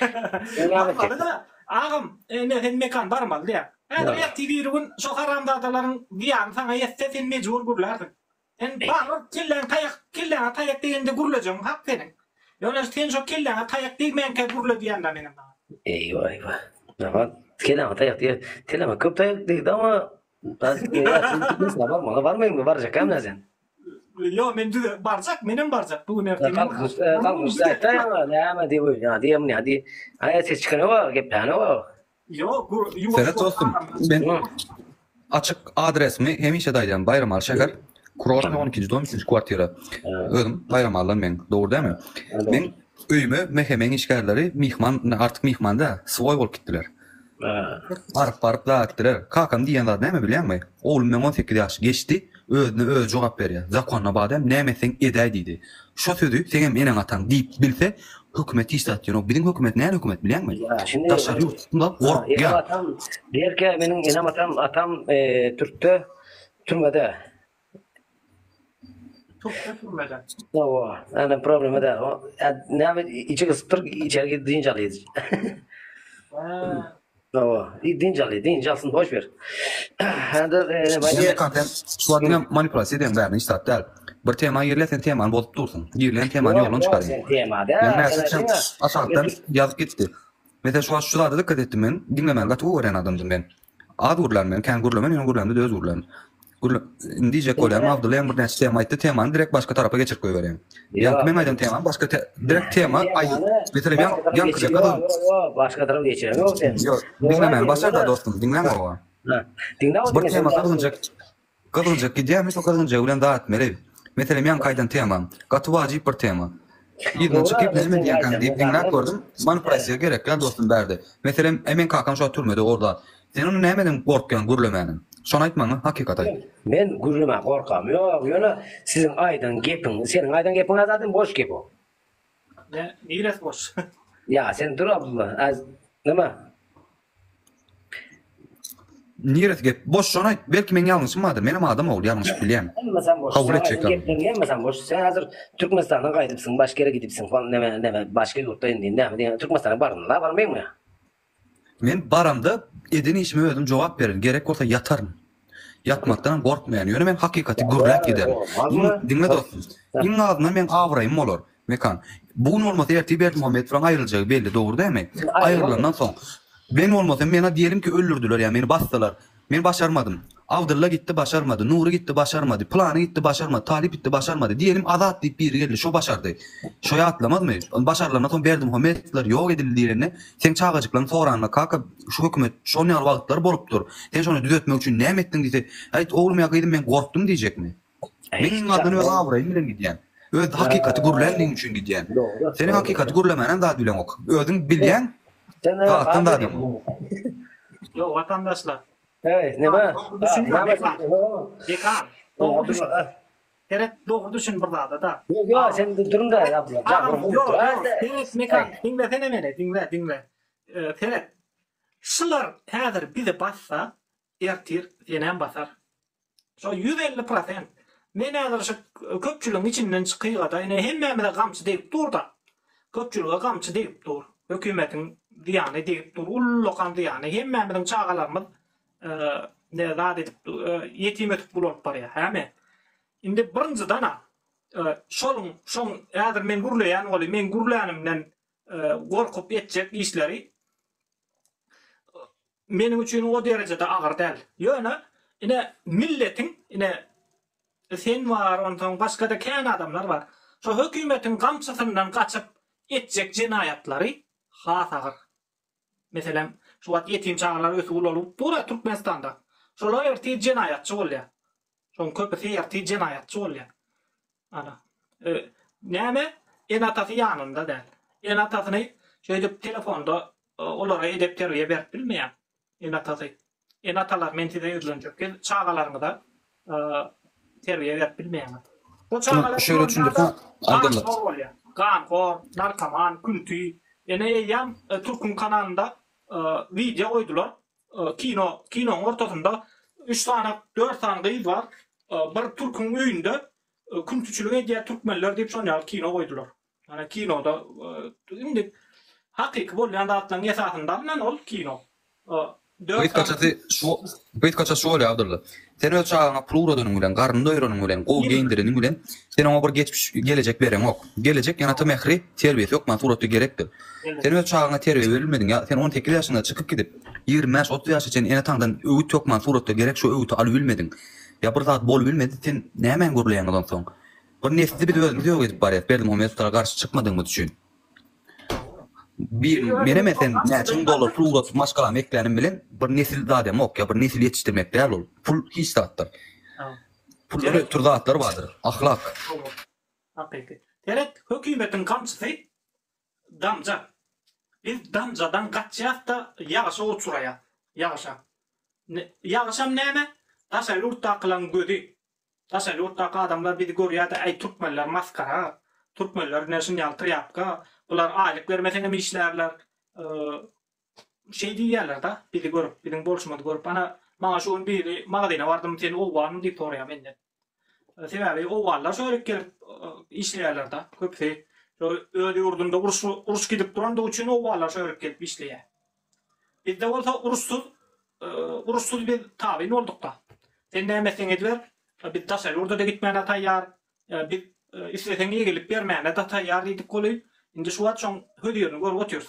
Barmaly-da, agam, indi sen Mekan barmaly-da. Häzir ertir birigün şo haramzadalaryň zyýany saňa ýetse, sen mejbur gürlärsiň. Sen baryr, kelläň taýak, kelläňe taýak degende gürlejegiň hak seniň. Ýöne sen şo kelläňe taýak degmänkä gürle diýýän-dä menem saňa. Eýwa-eýwa. Maňa kelläňe taýak degýär. Kelläňe köp taýak degdi, emma, häzir, häzir, barmaly, barmaýaňmy, barjakam-dä sen. Ýok, men düz barjak, menem barjak, bu gün ertir menem barjak. Galmyşda aýtdy ýaňy, näme diýip öýdýän, ýa diýýän, ýa diý. Aýa ses çykany bar, gepläni bar. Ýok, bu ýuwaş. Seret dostum, men açyk adresimi hemişe-de aýdýan, Baýramaly şäher, Kurortnyý on ikinji dom, üçünji kwartira. Özüm Baýramalydan men, dogry dälmi? Men öýüme Mehemeň işgärleri myhman, artyk myhman däl, swoý bolup gitdiler. Baryp-baryp zar etdiler. Kakam diýýän zady näme bilýäňmi? Oglum meň on sekiz ýaşy geçdi, özüne özi jogap berýär. Zakonyna badam näme etseň edäý diýdi. Şo sözi seňem eneň-ataň diýip bilse, hökümet hiç zat diýen ok. Biziň hökümet näl hökümet bilýäňmi? Daşary ýurt tutumda gorkýar. Enem-atam diýerkä meniň enem-atam, atam türkde, türmede. Topda sürmeden. Hawa, ana problema da. Näme içi gysypdyr, içeri gidip dynç alýar. Hawa, dynç alýar, dynç alsyn, boş ber. Hada, näme kafen, şu adamla manipulasiýa edýän bärini hiç zat däl. Bir tema girýär, sen temany bozup dursun. Girýän temany ýoldan çykaryň. Sen tema da. Aşakdan ýazyp gitdi. Mese şu şu zada dikkat etdim men. Diňlemäni gaty gowy görýän adamdym men. Az gürlän men, kän gürlemen, ýöne gürlämde döz gürlän. Gürle, indi diýjek bolýan, Abdylla ýaňy birnäçe tema aýtdy, temany direkt başga tarapa geçirip goýberýän. Ýaňky meň aýdan temam başga te, direkt tema aý, meselem ýaň, ýaňky deka döz. Başga tarap geçýär ýok sen. Ýok, diňle meni, başar da dostum, diňläň owa. Diňle owa. Bir tema salgynjak, Gyzylja gidýärmi şo gyzylja bilen zat etmeli. Meselem ýaňky aýdan temam. Gaty wajyp bir tema. Ýygnanşyk gep näme diýýänkäň diýip diňläp gördüm. Many pressiýa gerek däl dostum bärde. Meselem e meň kakam şo türmede or zat. Sen ony nämeden gorkýaň gürlemäniň. Şony aýt maňa hakykat aýt. Men gürlemän gorkam ýok ýöne siziň aýdan gepiň seniň aýdan gepiňä zaten boş gep o. Niresi boş. Ýa sen dur Abdulla az nima. Niresi gep? Boşjan aýt. Belki meň ýalňyşym bardyr. Menem adam ogul, ýalňyşyp bilýän. Hemmesem boş. Kabul etjek zat. Gepleriň hemmesem boş. Sen hazir Türkmenistandan gaýdypsyň, başga ýere gidipsiň. Hol näme, näme, başga ýurtda indi näme diýýän. Türkmenistana bardyň, la barmaýyňmy? Men baramda eden işime özüm jogap bererin. Gerek bolsa ýataryn. Ýatmakdanam gorkmaýan, ýöne men hakykaty gürläp giderin. Iň, diňle dostum, iň azyndan meň abraýym bolar, Mekan. Bu gün bolmasa ertir Berdimuhamedowyň aýryljagy belli, dogry dälmi? Aýrylandan soň, men bolmasam, meňa diýelim ki, öldürdiler ýa meni basdylar. Men başarmadym. Abdylla gitdi, başarmady. Nury gitdi, başarmady. Pylany gitdi, başarmady. Talyp gitdi, başarmady. Diýelim, Azat diýip biri geldi, şo başardy. Şo ýatlamazmy? Başarylandan soň Berdimuhamedowlar ýok edildi diýlende, seň çagajyklaň soranda, Kaka, Şu hökümet şol ýaly wagtlar bolupdyr. Sen şony düzetmek üçin näme etdiň diýse, Aýt, oglum ýa gyzym, men gorkdum diýjekmi? Men iň azyndan öz abraýym bilen gidýän. Öz hakykaty gürlänligim üçin gidýän. Seniň hakykaty gürlemänem zat bileňok. Özüň bilýäň, agatdan zadam. Ýo, watandaşlar. Heý, näme? Dekan, dogry düşün. Seret, dogry düşün bir zada-da. Ýo, sen durun-da, ýa. Ýo, ýo, seret, Mekan, diňlesene meni, diňle, diňle. Seret, şular häzir bizi bassa, ertir senem basar. Şo ýüz elli prosent. Men häzir şu köpçüligiň içinden çykyga-da, ine, hemmämize gamçy degip dur-da. Köpçülige gamçy degip dur. Hökümetiň zyýany degip dur. Ullakan zyýany. Hemmämiziň çagalarymyz ne zat edip, ýetim ötüp gul bolup barýar. Häme. Indi birinjiden-ä, şonuň, şoň, häzir men gürleýän welin, meň gürlänimden gorkup etjek işleri meniň üçin o derejede agyr däl. Ýöne, ine, milletiň, ine, sen bar, onsoň başga-da kän adamlar bar. Şo hökümetiň gamçysyndan gaçyp etjek jenaýatlary has agyr. Meselem, şu wagt ýetim çagalar ösüp-ulalyp dur-a Türkmenistanda. Şolar ertir jenaýatçy bolýar. Şoň köpüsi ertir jenaýatçy bolýar. Ana. E, näme? Ene-atasy ýanynda däl. Ene-atasyny şeýdip telefonda e, olara edep-terbiýe berip bilmeýär. Ene-atasy. Ene-atalar men size ýüzlenjek. Siz çagalaryňyza e, terbiýe berip bilmeýäňiz. Bu çagalar şöyle düşündürse aydyllar. Zor bolýar. Ganhor, narkoman, künti. Ene eýýäm e, Türkün kanalynda e, wideo goýdular. Kino kinoň ortasynda üç sany dört sany gyz bar. Bir türküň öýünde küntiçilik edýär türkmenler diýip şon ýaly kino goýdular. Ýani kinoda indi hakyky bolýan zatlaryň esasynda alnan ol kino. Dört sany Gyzkaçasy şu gyzkaça şu bolýar Abdylla. Sen öz çagaňa pul ugradanyň bilen, garnyny doýuranyň bilen, gowy geýindireniň bilen, sen oňa bir geçmiş, gelejek bereňok. Gelejek ýa ata mähri, terbiýesi hökman suratda gerekdir. Sen öz çagaňa terbiýe berilmediň ýa sen on sekiz ýaşyňda çykyp gidip, ýigrimi bäş, otuz ýaşa çenli ene-ataňdan öwüt hökman suratda gerek şo öwüti alybilmediň ýa bir zat bolubilmedi, sen nämäni gürleýäňiz onsoň? Bir nesli biz özümiz ýok edip barýas Berdimuhamedow gara garşy çykmadygymyz üçin. Menem-ä sen näçe müň dollar pul ugradyp maşgalamy eklänim bilen bir nesil zademok, ýa bir nesil ýetişdirmek däl ol. Pul hiç zatdyr. Puldan ötür zatlar bardyr, ahlak. Hakyky. Seret, hökümetiň gamçysy damja. Biz damjadan gaçýas-da ýagyşa uçraýas. Ýagyşa. Ýagyşam näme? Daşary ýurtdakylaň gözi. Daşary ýurtdaky adamlar bizi görýärdi äý türkmenler masgara, türkmenler ine şun ýaly trýapka, bular aýlyk bermeseňem işlärler şeý diýýärlerde bizi görüp biziň bolşumyzy görüp ana maňa şu gün biri magazyna bardym sen owganmy diýip soraýar menden sebäbi owganlar şo ýerik gelip işleýärlerde köpüsi şo öz ýurdunda uruş gidip durandygy üçin owganlar şo ýerik gelip işleýär Bizde bolsa uruşsyz uruşsyz biz tabyn boldukda. Sen näme etseň ediber, biz daşary ýurda-da gitmäne taýýar, biz isleseň eýgilik bermäne-de taýýar diýdik goly. Indi şu wagt şoň hözirini görüp otyrys.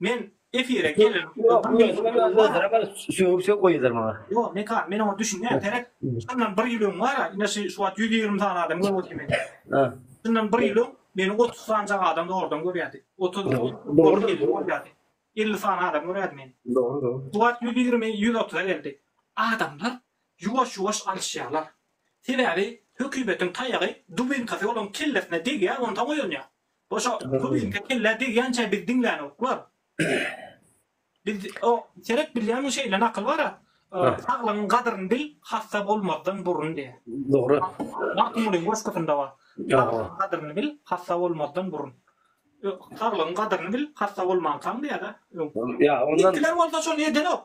Men efire gelen Sögüp-sögüp goýýarlar maňa. Ýok, Mekan, men oňa düşünýän. Seniň şundan bir ýyl öň bar-a, ine şu şu wagt ýüz ýigrimi sany adam görüp otyr meni. Şundan bir ýyl öň meni otuz sanjak adam zordan görýärdi. Otuz, otuz elli bolýardy. Elli sany adam görýärdi meni. Şu wagt ýüz ýigrimi, ýüz otuza geldi. Adamlar ýuwaş-ýuwaş alyşýarlar. Sebäbi hökümetiň taýagy, dubinkasy olaryň kellesine degýär, onsoň oýanýar. Goşa bu bizde kelle degýänçä biz diňlänok bar. Biz o seret bilýän bu şeýle nakyl bara. Saglygyň gadryny bil, hassa bolmazdan burun diýýär. Dogry. Magtymgulyň goşgusynda bar. Saglygyň gadryny bil, hassa bolmazdan burun. Saglygyň gadryny bil, hassa bolmankaň diýýär-de. Ýa ondan. Ilkiler bolsa şony edenok.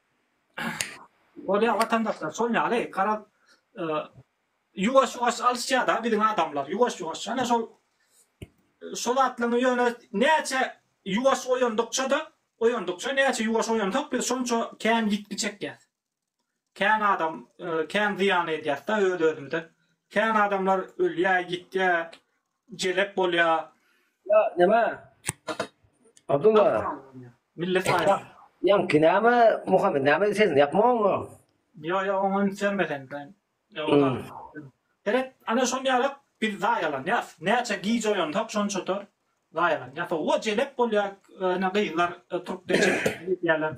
Bolýar watandaşlar şol ýaly garaz ýuwaş ýuwaş alyşýada biziň adamlar ýuwaş ýuwaş ýane şol şol zatlaryň ýöne näçe ýuwaş oýandykçada oýandykça näçe ýuwaş oýansak biz şonça kän ýitgi çekýäs kän adam kän zyýan edýäsda öz özümize kän adamlar ölýä ýitýä Jelep bolýa. Ýa näme? Abdulla. Millet aýa. Ýaňky näme Muhammed näme sesini ýapmaňmy? Ýo ýo oňa üns berme sen. Seret ana şony ýalyk biz zaýalanýas. Näçe gije oýansak şonça tor zaýalanýas. Owa jelep bolýa ene gyzlar turk deçe ýalar.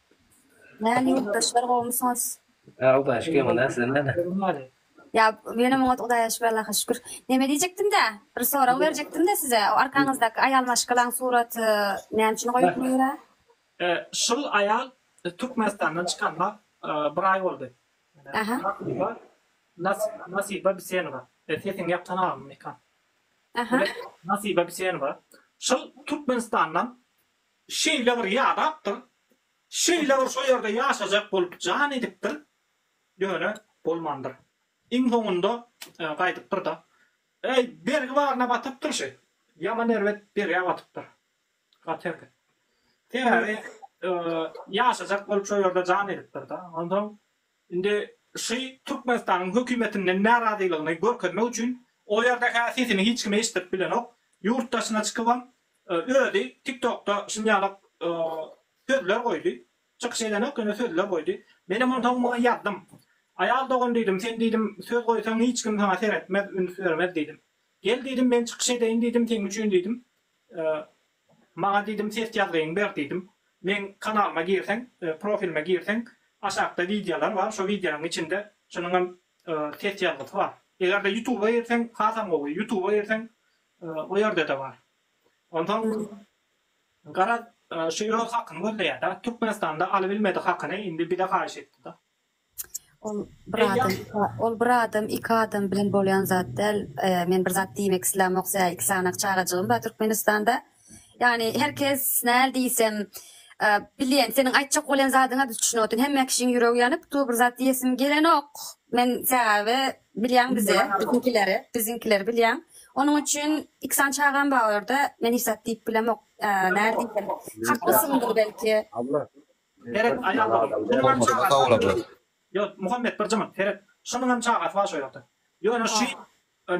Näme ýurtdaşlar gowumysyňyz? Hudaýa şükür emma näme sizem näme? Ýa menem oňat Hudaýa şükür Allaha şükür. Neme diýjekdimdä bir sorag berjekdimdä size o arkaňyzdaky aýal maşgalaň suraty näme üçin goýupmy ýöre? Şul aýal Türkmenistandan çykanyna bir aý boldy. Nasiba Nasiba Bisenowa. Sesiňi ýap tanamymy ekän. Nasiba Bisenowa. Şul Türkmenistandan Şeýle bir ýadapdyr, şeýle bir şo ýerde ýaşajak bolup jan edipdir, ýöne bolmandyr. Iň soňunda gaýdypdyr-da. Äý, bergi baryna batypdyr şi. Ýaman erbet bergä batypdyr. Gaty erbet. Sebäbi ýaşajak bolup şo ýerde jan edipdir-da. Onsoň Indi Şy Türkmenistanyň hökümetinden närazylygyny görkezmek üçin o ýerde hä sesini hiç kim eşitdirip bilenok. Ýurt daşyna çykybam özi TikTokda şunýalak sözler goýdy. Çykyş edenok ýöne sözler goýdy. Menem onsoň muňa ýazdym. Aýal dogan diýdim, sen diýdim söz goýsaň hiç kim saňa seretmez, üns bermez diýdim. Gel diýdim men çykyş edeýin diýdim seň üçin diýdim. Maňa diýdim ses ýazgyňy ber diýdim. Meň kanalyma girseň, profilime girseň, aşakda wideolar bar, şo wideonyň içinde şunuň hem ses ýazgysy bar. Egerde ýutuba girseň hasam gowy, ýutuba girseň o ýerde-de bar. Onsoň garaz şu öz hakyny gözleýärda, Türkmenistanda alybilmedi hakyny indi bize haýyş etdida. Ol bir adam, ol bir adam, iki adam bilen bolýan zat däl. E, men bir zat diýmek islämok, sä iki sanaň çagajygym bar Türkmenistanda. Ýagny her kes näl diýsem, e, bilýän, seniň aýtjak bolýan zadyňa düşünip otyryn. Hemme kişiň ýüregi ýanyp, tu bir zat diýesim gelenok. Men sebäbi bilýän bize, biziňkileri, biziňkileri bilýän. Onuň üçin iki sany çagam bar orada. Men hiç zat diýip bilemok. E, näl diýsem, haklysyňdyr belki. Abla, Seret aýal dogry. Şunuňam çagasy bar şu ýerde. Ýo, Muhammet bir jyňyrt, seret. Şunuňam çagasy bar şu ýerde. Ýöne şu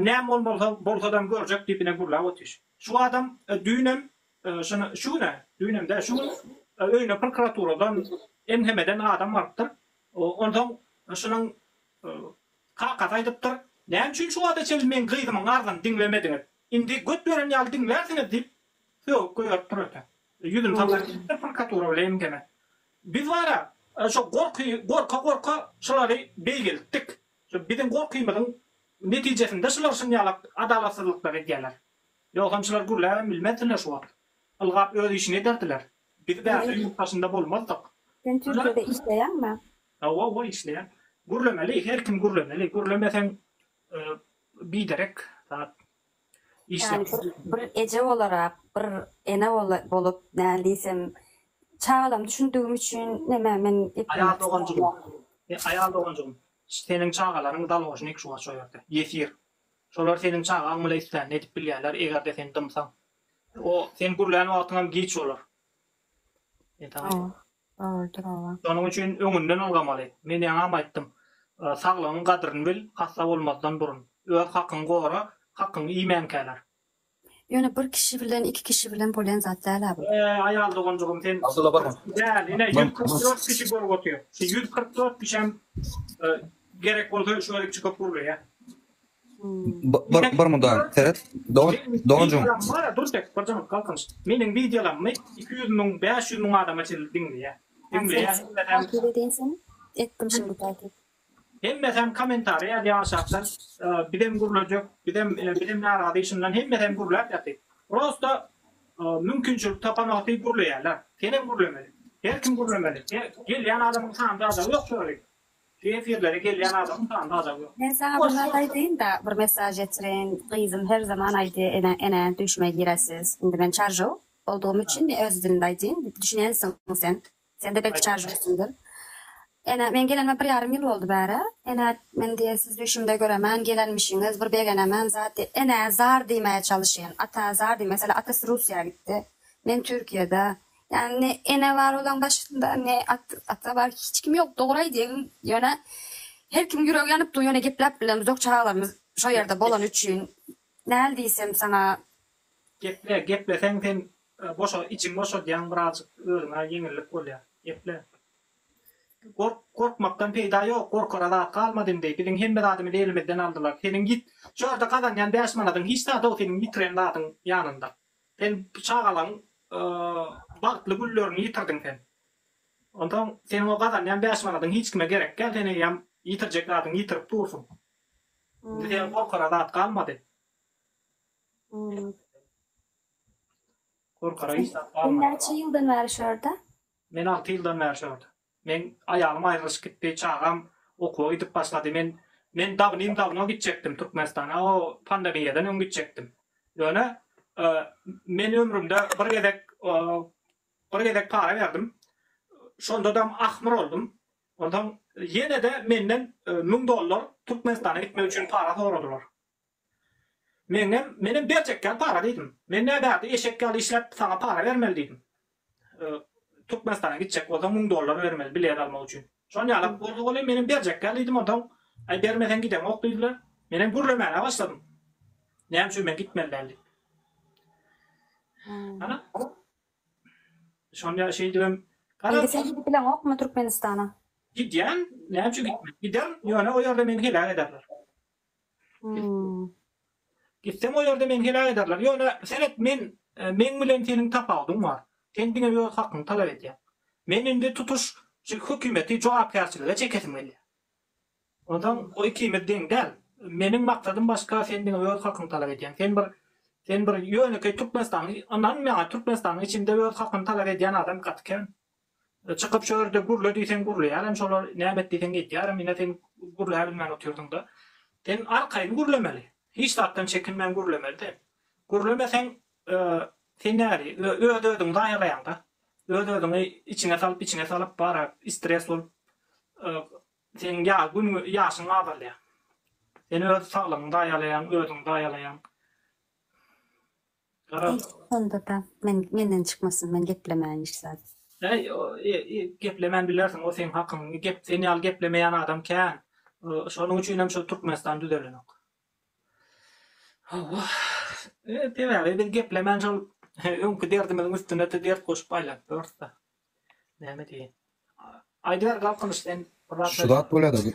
näme bol bolsa, bolsadam görjek diýip ine gürläp otyş. Şu adam düýnem, şuna, şu gün-ä, düýnem däl, şu gün öýüne prkuraturadan, MHM-den adam barypdyr. Onsoň şunuň kakasy aýdypdyr, Näme üçin şu wagta çenli meň gyzymyň arzyny diňlemediňiz? Indi göt beren ýaly diňlärsiňiz diýip, sögüp goýberipdir öte. Ýüzüni sallar diýipdir prokuratura bile MGM-e. Biz bar-a, şo gorky, gorka-gorka şulary beýgeltdik. Şu biziň gorkymyzyň netijesinde şular şunýalak adalatsyzlyklar edýärler. Ýogsam şular gürläbem bilmezdiler şu wagt. Ylgap öz işini ederdiler. Biz bärde ýurt daşynda bolmazdyk. Sen Türkiýede işleýäňmi? Hawa, hawa işleýän. Gürlemeli, her kim gürlemeli. Gürlemeseň biderek zat. Ýani bir bir eje bolarak, bir ene bolup, näme diýsem, çagalarym düşündigim üçin näme men Aýal doganjygym, he, aýal doganjygym, seniň çagalaryň dalhoşyny iki şuwar şu ýerde, ýesir. Şolar seniň çagaň bile islänini edip bilýärler, eger-de sen dymsaň. O, sen gürlän wagtyňam giç bolar. Ýa tamam. Dogrudyr oba. Şonuň üçin öňünden ylgamaly. Men ýaňam aýtdym. Saglygyň gadryny bil, hassa bolmazdan burun. Öz hakyňy gora, hakyňy iýmänkäler. Ýöne bir kişi bilen, iki kişi bilen bolýan zat däl-ä bu. Eý, aýal doganjygym, sen kyrk däl, ine, ýüz kyrk dört kişi görüp otyr. Şu ýüz kyrk dört kişem gerek bolsa, şu gezek çykyp gürleýä. Bir bir mydam seret don donjuň. Dur çek bir jyňyp galkynyş. Meniň wideolarymy iki ýüz müň bäş ýüz müň adama çenli diňleýä. Diňleýä hemmesem. Hemmesem kommentariýa ýazýa aşakdan bizem gürlejek bizem bizem narazy işinden hemmesem gürläp ýaty. Prosta mümkinçilik tapanaty gürleýäler. Senem gürlemeli. Her kim gürlemeli. Gelýän adamyň sany zada ýok şo ýeri. Şu efirlere gelýän adamyň sany sazam ýok. Men saňa bir zat aýdaýynda bir mesaž ýetirin gyzym her zaman aýdy ene ene düýşüme giresiz indi men çaržow boldugym üçin men öz dilinde aýdýyn düşünýänsiň sen sende belki çaržowsyňdyr ene men gelenime bir ýarym ýyl boldy bärä ene men diýe siz düýşümde göremän gelenmişiňiz bir begenemän zat ene zar diýmäge çalyşýan ata zar diýmäge meselem atasy russiýa gitdi men türkiýede Ýani ne ene bar olaň başynda ne ata bar hiç kim ýok dogry aýdyň ýöne her kim ýüregi ýanyp dur ýöne gepläp bilemz ýok çagalarymyz şo ýerde bolany üçin näl diýsem saňa. Geple gepleseň sen boşa içiň boşadýaň birazjyk özüňe ýeňillik bolýa geple gork gorkmakdan peýda ýok gorkara zat galmady indi biziň hemme zadymyzy elimizden aldylar seniň ýit şo ýerde gazanýan bäş manadyň hiç zat-ow seniň ýitiren zadyň ýanynda. Sen bu çagalaň bagtly günlerini ýitirdiň sen. Onsoň seniň o gazanýan bäş manadyň hiç kime gerek däl, sen eýýäm ýitirjek zadyňy ýitirip dursuň. Indi seniň gorkara zat galmady. Gorkara hiç zat galmady. Sen näçe ýyldan bäri şu ýerde? Men alty ýyldan bäri şu ýerde. Meň aýalym aýrylyşyp gitdi, çagam okuwa gidip başlady. Men men dawnim-dawno gitjekdim Türkmenistana, o pandemiýadan öň gitjekdim. Ýöne men ömrümde bir gezek bir gezek para berdim. Şondadam ahmyr boldum. Onsoň ýene-de menden müň dollar Türkmenistana gitmek üçin para soradylar. Meňem, menem berjekkäm para diýdim. Men näbärde eşek ýaly işläp, saňa para bermeli diýdim. Türkmenistana gitjek bolsaň, müň dollar bermeli, bilet almak üçin. Şon ýalak boldy welin, menem berjekkä diýdim, onsoň, Aý, bermeseň gideňok diýdiler. Menem gürlemäne başladym. Näme üçin men gitmeli däl diýip. Ana, şonda şeýdibem. Indi sen gidip bileňokmy Türkmenistana? Gidýän, näme üçin gitmen. Giderin, ýöne o ýerde meni heläk ederler. Gitseň o ýerde meni heläk ederler. Ýöne seret men meň bilen seniň tapawudyň bar. Sen diňe öz hakyňy talap edýäň. Men indi tutuş hökümeti jogapkärçilige çekesim gelýär. Onsoň o ikimiz deň däl. Meniň maksadym başga sen diňe öz hakyňy talap edýäň. Sen bir sen bir ýönekeý türkmenistanly ynanmaýaň türkmenistanyň içinde öz hakyny talap edýän adam gaty kän. Çykyp şu ýerde gürle diýseň gürleýärem şolar, näme et diýseň etýärem, ine sen gürläbilmän otyrsyň-da. Sen arkaýyn gürlemeli. Hiç zatdan çekinmän gürlemeli sen. Gürlemeseň sen näli, öz-özüňi zaýalaýaň-da. Öz-özüňi içiňe salyp, içiňe salyp bara stres bolup seniň ýa gün ýaşyň azalýar. Sen öz saglygyňy zaýalaýaň, özüňi zaýalaýaň. Eý, onda-da men, menden çykmasyn, men geplemäýin hiç zat. Äý, e-e, geplemän bilersiň, o seň hakyň, gep, sen ýaly geplemeýän adam kän, şonuň üçinem şol Türkmenistan düzelenok. Hawa, e, sebäbi biz geplemän şol öňki derdimiziň üstüne-de dert goşup aýlanyp ýörüs-de. Şu zat bolýada bu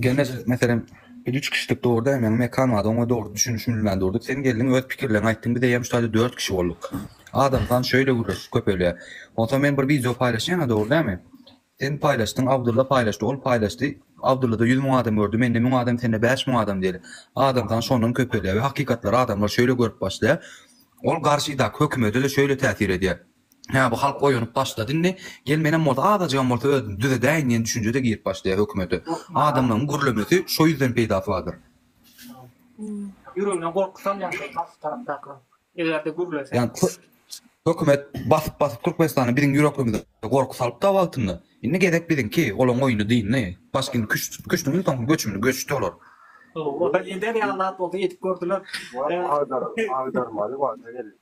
gelne meselem biz üç kişidik dogry däl meň Mekan wada oňa dogry düşünişmilmän durduk sen geldiň öz pikirleň aýtdyň biz eýýäm şu taýda dört kişi bolduk adam san şöýle gürleşip köpelýä onsoň men bir wideo paýlaşýana dogry dälmi sen paýlaşdyň Abdylla paýlaşdy ol paýlaşdy Abdyllada ýüz müň adam gördi mende müň adam sende bäş müň adam diýeli adam san şondan köpelýä we hakykatlary adamlar şöýle görüp başlaýa ol garşydaky hökümede-de şöýle täsir edýä Hä, bu halk oýanyp başlady indi. Gel menem bolsa azajygam bolsa özümi düzedäýin diýen düşünje-de girip başlaýar hökümete. Adamlaryň gürlemesi şo ýüzden peýdasy bardyr. Ýüregine gorky salýan şol garşy tarapdakylaryň. Eger-de gürlese. Ýagny hökümet basyp-basyp Türkmenistana biziň ýürekimize gorky salypdy-a wagtynda. Indi gezek biziňki, olaryň oýny dyndy. Başkini küştümiň soňky göçümini göçdi olar. Ol-da eder ýaly zat bolsa edip gördüler. Agdarmaly wagta geldik.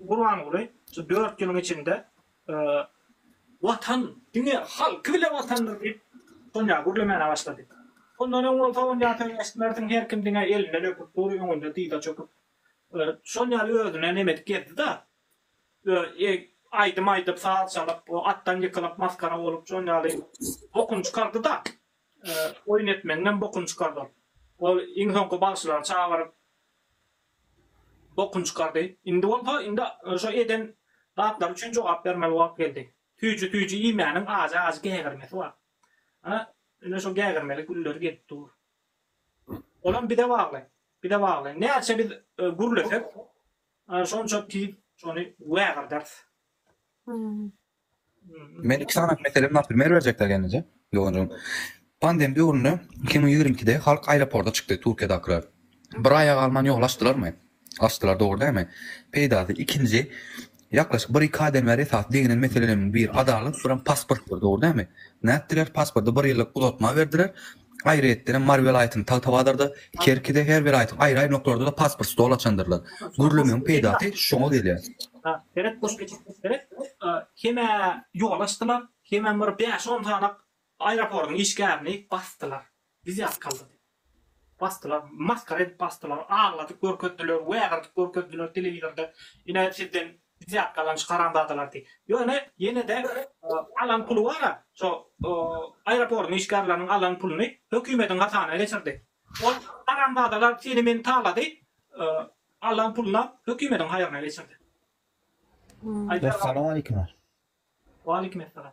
Gurbanguly şu dört ýylyň içinde Watan diňe halky bile Watandyr diýip Sonýa gürlemäne başlady. Ondan öň bolsa Onýa söz eşitmersiň her kim diňe elinden öpüp dur öňünde dyza çöküp şol ýaly özüne nemedik gezdi-da aýdym aýdyp saz çalyp atdan ýykylyp maskara bolup şol ýaly bokun çykardy-da oýun etmegiňem bokun çykardy ol iň soňky bagşylary çagyryp Bokun çykardy. Indi bolsa, indi şo eden zatlary üçin jogap bermeli wagt geldi. Süýji süýji iýmäniň ajy ajy gägirmesi bar. Ana, indi şo gägirmeli günleri gelip dur. Olam bize bagly. Bize bagly. Näçe biz gürlesek, şonça tiz şony wägirderis. Men iki sany mesele bilen primer berjekler gelince. Doganjygym. Pandem döwründe iki müň ýigrimi ikide halk aeroporda çykdy Turkiýadakylar. Bir aýa galman ýoly açdylarmy? Açdylar dogry dälmi? Peýdasy ikinji ýaklaşyk bir iki aýdan bäri esasy deginen meseleleriň biri adalat bir hem pasportdyr dogry dälmi? Nätdiler pasporty bir ýyllyk uzatma berdiler Aýratynam, Mary welaýatynyň Tagtabazarda, Kerkide, her welaýatyň aýry-aýry nokalaryda-da pasport stol açandyrlar. Gürlemegiň peýdasy şoňa gelýär. Kemä ýola açdylar, kemem bir bäş-on sanyk aeroportyň işgärini basdylar. Wizýatkalar diýip basdylar. Masgara edip basdylar. Agladyp görkezdiler, wägirtip görkezdiler telewizorda. Ine, sizden Biziak galan şu haramzadalar diýip. Ýöne ýenede alan puly bara şo aeroportyň işgärleriniň alan puluny hökümediň hasana geçirdi. Ol haramzadalar seni meni talady alan pulunam hökümediň haýryna geçirdi. Aýdar aga. Essalamu aleykum. Waleyküm essalam.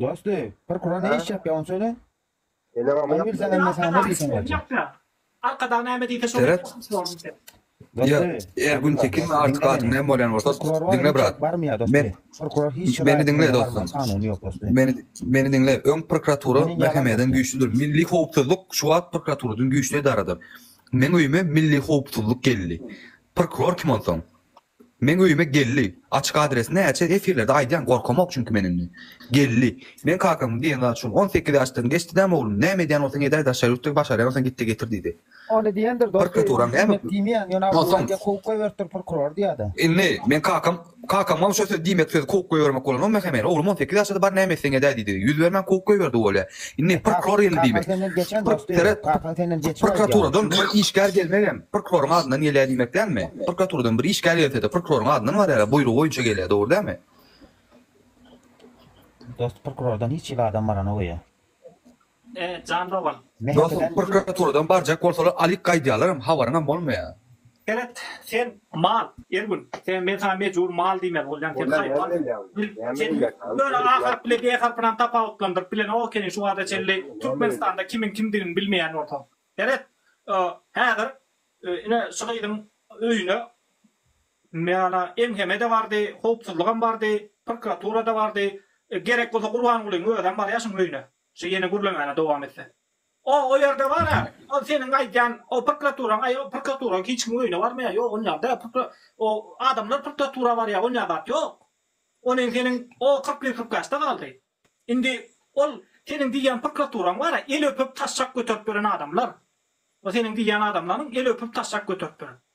Dost-y, prokura ne iş çapýa ony söyle. Ony bilseňem men saňa ne diýsem gaty. Seret. Ýa, er gün tekinmi artyk adam näme bolýan bolsa, diňle brat. Men, meni diňle dostum. Meni, meni diňle. Öň prokuratura mähemeden güýçlüdir. Milli howpsuzlyk şu wagt prokuraturadan güýçli edaradyr. Meň öýüme milli howpsuzlyk geldi. Prokuror kim onsoň? Meň öýüme geldi. Açyk adresini näçe efirlerde aýdýan gorkamok çünki men indi. Geldi. Men kakamyň diýen zady şol. On sekiz ýaşdan geçdi däm oglum. Näme edýän bolsaň edäý daşary ýurtda başarýan bolsaň gitde getir diýdi. Ony diýendir dosty. Prokuratura näme diýmeýän ýöne Abdulla diýen kowup goýberipdir prokuror diýýädä. Indi men kakam kakamam şo söz diýmek sözi kowup goýbermek bolanok mähemeli oglum on sekiz ýaşada bar näme etseň edäý diýdi. Ýüz bermän kowup goýberdi bolýa. Indi prokuror geldi diýmek. Prokuraturadan bir işgär gelmegem prokuroryň adyndan gelýär diýmek dälmi? Prokuraturadan bir işgär gelse-de prokuroryň adyndan barýar-a, buýrugy boýunça gelýär, dogry dälmi? Dost prokurordan hiç hili adam baranok öýe. Dostum prokuraturadan barjak bolsalar alyp gaýdýarlaram habaryňam bolmaýar. Seret, sen, mal, Ergün, sen, men saňa mejbur mal diýmeli bolýan, sen, haýwan, sen, ýöne A harpy ile D harpynam tapawutlandyryp bilenok ekeniň şu wagta çenli Türkmenistanda kimiň kimdigini bilmeýän bolsaň. Seret, häzir, ine, şu gyzyň öýüne mana MHM-de bardy, howpsuzlygam bardy, prokuratura-da bardy, gerek bolsa Gurbangulyň özem barýar şuň öýüne, şu ýene gürlemäni dowam etse. O o ýerde bar a ol seniň aýdýan o prkraturaň aý o prkraturaň hiç kimiň öýüne barmaýa ýok ol ýerde prkra o adamlar prkratura barýa onýa zat ýok. O neň seniň o kyrkly prkaçda galdy. Indi ol seniň diýýän prkraturaň bar a el öpüp taşşak göterip ýören adamlar o seniň diýýän adamlaryň el öpüp taşşak göterip ýören.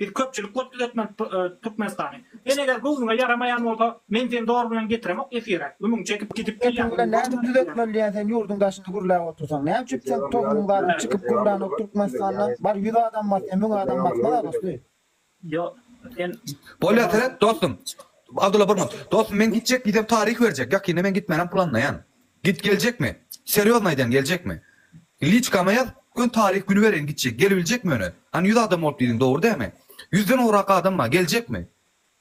Biz köpçülik bolup düzetmelik Türkmenistany. Sen eger göwnüňe ýaramaýan bolsa men seni dogry bilen getiremok efire. Ümüň çekip gidip gelýäň. Sesiň bilen näme düzetmeli diýýän sen ýurduň daşynda gürläp otursaň. Näme üçin seň tohunyň baryny çykyp gürlänok Türkmenistanda. Bar ýüz adam basýa müň adam basmaz-a dosty. Ýok sen. Bolýa seret dostum. Abdulla Burma. Dostum men gitjek gidem taryh berjek. Ýakynda men gitmänäm planlaýan. Git geljekmi? Serýozny aýdýan geljekmi? Liçkama ýaz, göni taryh güni bereýin gitjek, gelibiljekmi ýöne? Hany ýüz adam bolup diýdiň dogry dämi? Ýüzden ugrak adam bar, geljekmi?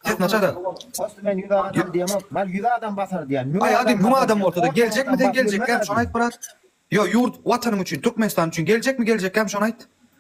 Ses naçar däl. Dostum men ýüz adam diýemok, mal ýüz adam basar diýýän, müň Aý ady müň adam bolsa da geljekmi sen geljekkäm şony aýt brat? Ýo ýurt, watanym üçin, Türkmenistan üçin geljekmi geljekkäm şony aýt?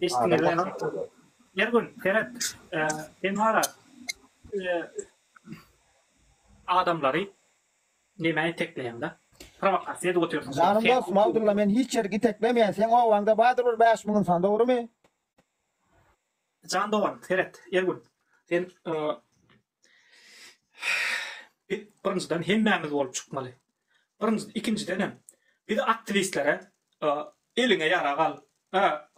Eşitdiňiz mi? Her gün seret, sen hala adamlary nämä itekleýäň-da? Prowokasiýa edip otyrsyň. Janym dostum Abdulla men hiç ýeri giteklemeýän seň obaňda badyr bir bäş müň ynsan dogrymy? Jan dogan seret Ergün sen Biz birinjiden hemmämiz bolup çykmaly. Birinji ikinjidenem biz aktiwistlere eliňe ýarag al,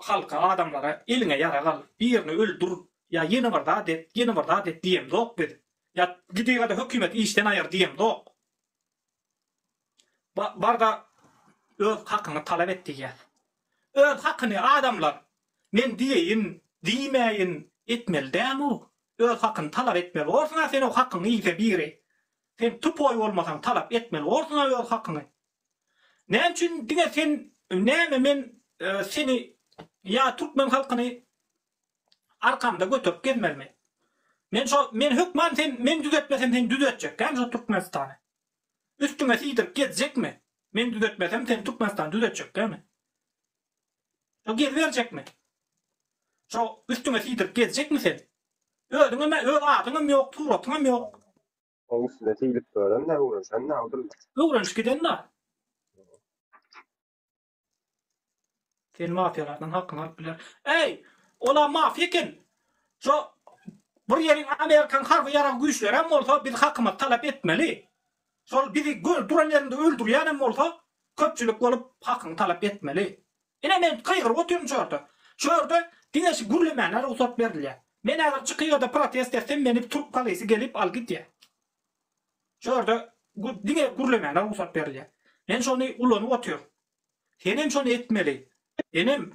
halka, adamlara eliňe ýarag al, birini öldür ýa ýene bir zat et, ýene bir zat et diýemzok biz. Ýa gidigada hökümet işden aýyr diýemzok. Barda öz hakyňy talap et diýýär. Öz hakyny adamlar men diýeýin, diýmäýin etmeli däl-u. Öz hakyny talap etmeli borsuň-a sen o hakyňy iýse biri. Sen tupoý bolmasaň talap etmeli borsuň-a öz hakyňy. Näme üçin diňe sen näme men seni ýa türkmen halkyny arkamda göterip gezmelimi? Men şo men hökman sen men düzetmesem seni düzetjekkämi şo Türkmenistany? Üstüňe siýdirip gezjekmi? Men düzetmesem seni Türkmenistany düzetjekkämi? Şo geziberjekmi? Şo üstüňe siýdirip gezjekmi sen? Özüňem öz adyňam ýok, suratyňam ýok. Oň üstüne siýlip gören-de, öwrenşen-de, Abdylla. Öwrenişip giden-de. Seni mafiýalardan hakyňy alyp biler. Eý, ola mafiýa eken. Şo bir ýeriň Amerikan harby ýarag güýçleri hem bolsa biz hakymyzy talap etmeli. Şol bizi görüp duran ýerinde öldürýän hem bolsa köpçülik bolup hakyňy talap etmeli. Ine men gygyryp otyryn şu ýerde. Şu ýerde diňe şu gürlemäne rugsat berilýär. Men häzir çykyp ýa-da protest etsem meni türk polisy gelip alyp gidýär. Şu ýerde diňe gürlemäne rugsat berilýär. Men şony ulanyp otyryn. Sen hem şony etmeli. Enem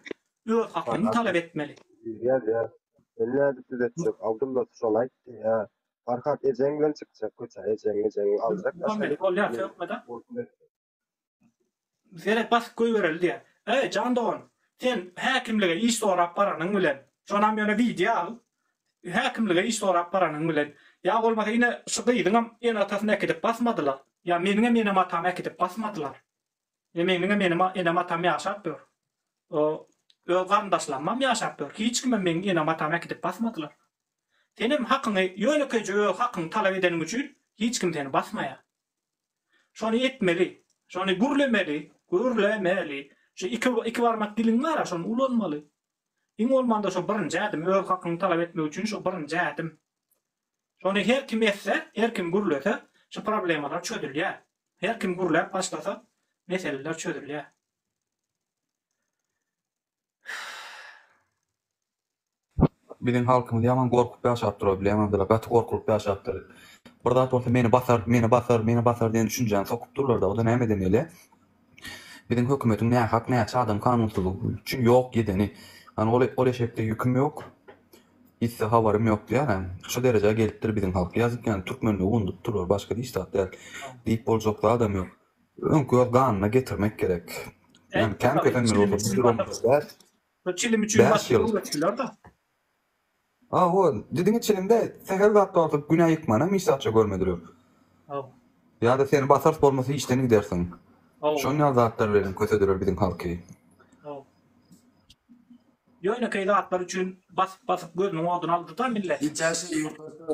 öz haklygyny talap etmeli. Diýýär-de, Men nädip düz etjek? Abdylla şony aýtdy. Hä, Farhat ejeň bilen çykjak köçä. Ejeňi, ejeňi aljak. Bolmaly, bolýar, sökme-de. Seret basyp goýbereli diýýär. Eý jan dogan, sen häkimlige iş sorap baranyň bilen, şonam ýöne wideo al, häkimlige iş sorap baranyň bilen, ýa bolmasa ine şu gyzyňam ene-atasyny äkidip basmadylar, ýa meniňem enem-atamy äkidip basmadylar. Ine meniňem enem, enem-atam ýaşap ýör. O öz garyndaşlarymam ýaşap ýör. Hiç kimem meniň enem-atamy äkidip basmadylar. Senem hakyňy ýönekeýje öz hakyňy talap edeniň üçin hiç kim seni basmaýar. Şony etmeli. Şony gürlemeli, gürlemeli. Şu iki, iki barmak diliň bar-a, şony ulanmaly. Iň bolmanda şu birinji ädim, öz hakyňy talap etmek üçin şu birinji ädim. Şony her kim etse, her kim gürlese, şu problemalar çözülýär. Her kim gürläp başlasa, meseleler çözülýär. Biziň halkymyz ýaman gorkup ýaşapdyr, ol bilemem dala, gaty gorkulyp ýaşapdyr. Bir zat bolsa meni basar, meni basar, meni basar diýen düşünjäni sokup durlar-da, o-da nämeden gelýä? Biziň hökümetiň nähak näçe adam kanunsyzlyk üçin ýok edeni. Hany ol, ol eşekde ýüküm ýok, ýitse habarym ýok diýýär-ä. Şo derejä gelipdir biziň halk. Ýazyk ýany, türkmenligi undup durlar, başga hiç zat däl. Diýip boljak zadam ýok. Öňki öz ganyna getirmek gerek. Yani kän kösen bir olsa bir ýyl olmaz. Bu çilim üçin başga öwretdiler-da. A o, didiňi çilimde sähel zat bardyr, günä ýykmana misatça görmediler. Hawa. Ýa-da seni basars bolmasa işden gidersiň. Hawa. Şon ýaly zatlar bilenem kösediler biziň halky. Hawa. Ýönekeý zatlar üçin basyp-basyp gözüniň oduny aldy-da millet. Gitýän şeýle ýurtlarda.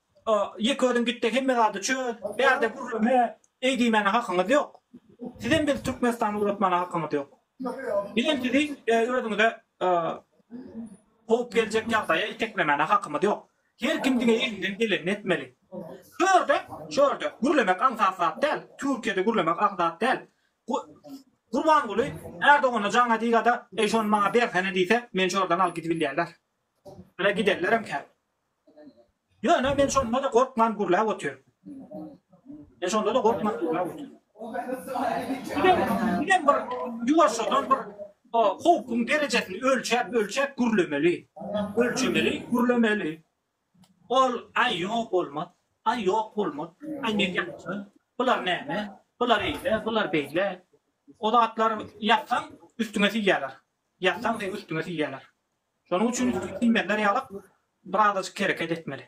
Ýeke özüň gitde hemme zady çöz, bärde gürleme, eý diýmäne hakyňyz ýok. Sizem biz Türkmenistany ugratmana hakyňyz ýok. Bizem sizi özüňize howp geljek ýagdaýa iteklemäne hakymyz ýok. Her kim diňe elinden gelenini etmeli. Şu ýerde, şu ýerde gürlemek aňsat zat däl, Türkiýede gürlemek aň zat däl. Gurbanguly Erdogana jaňa diýgada, eý şony maňa bersene diýse, men şu ýerden alyp gidibilýärler. Ýöne giderlerem kän. Ýöne men şonda-da gorkman gürläp otyryn. Men şonda-da gorkman gürläp otyryn. Bizem, bizem bir ýuwaşjadan bir o howpuň derejesini ölçäp, ölçäp gürlemeli. Ölçemeli, gürlemeli. Ol, Aý, ýok, bolmaz. Aý, ýok, bolmaz. Aý, men ýatjak. Bular näme? Bular eýle, bular beýle. O zatlar ýatsaň, üstüňe siýýärler. Ýatsaň seň üstüňe siýýärler. Şonuň üçin üstüňe siýmezler ýalyk birazajyk hereket etmeli.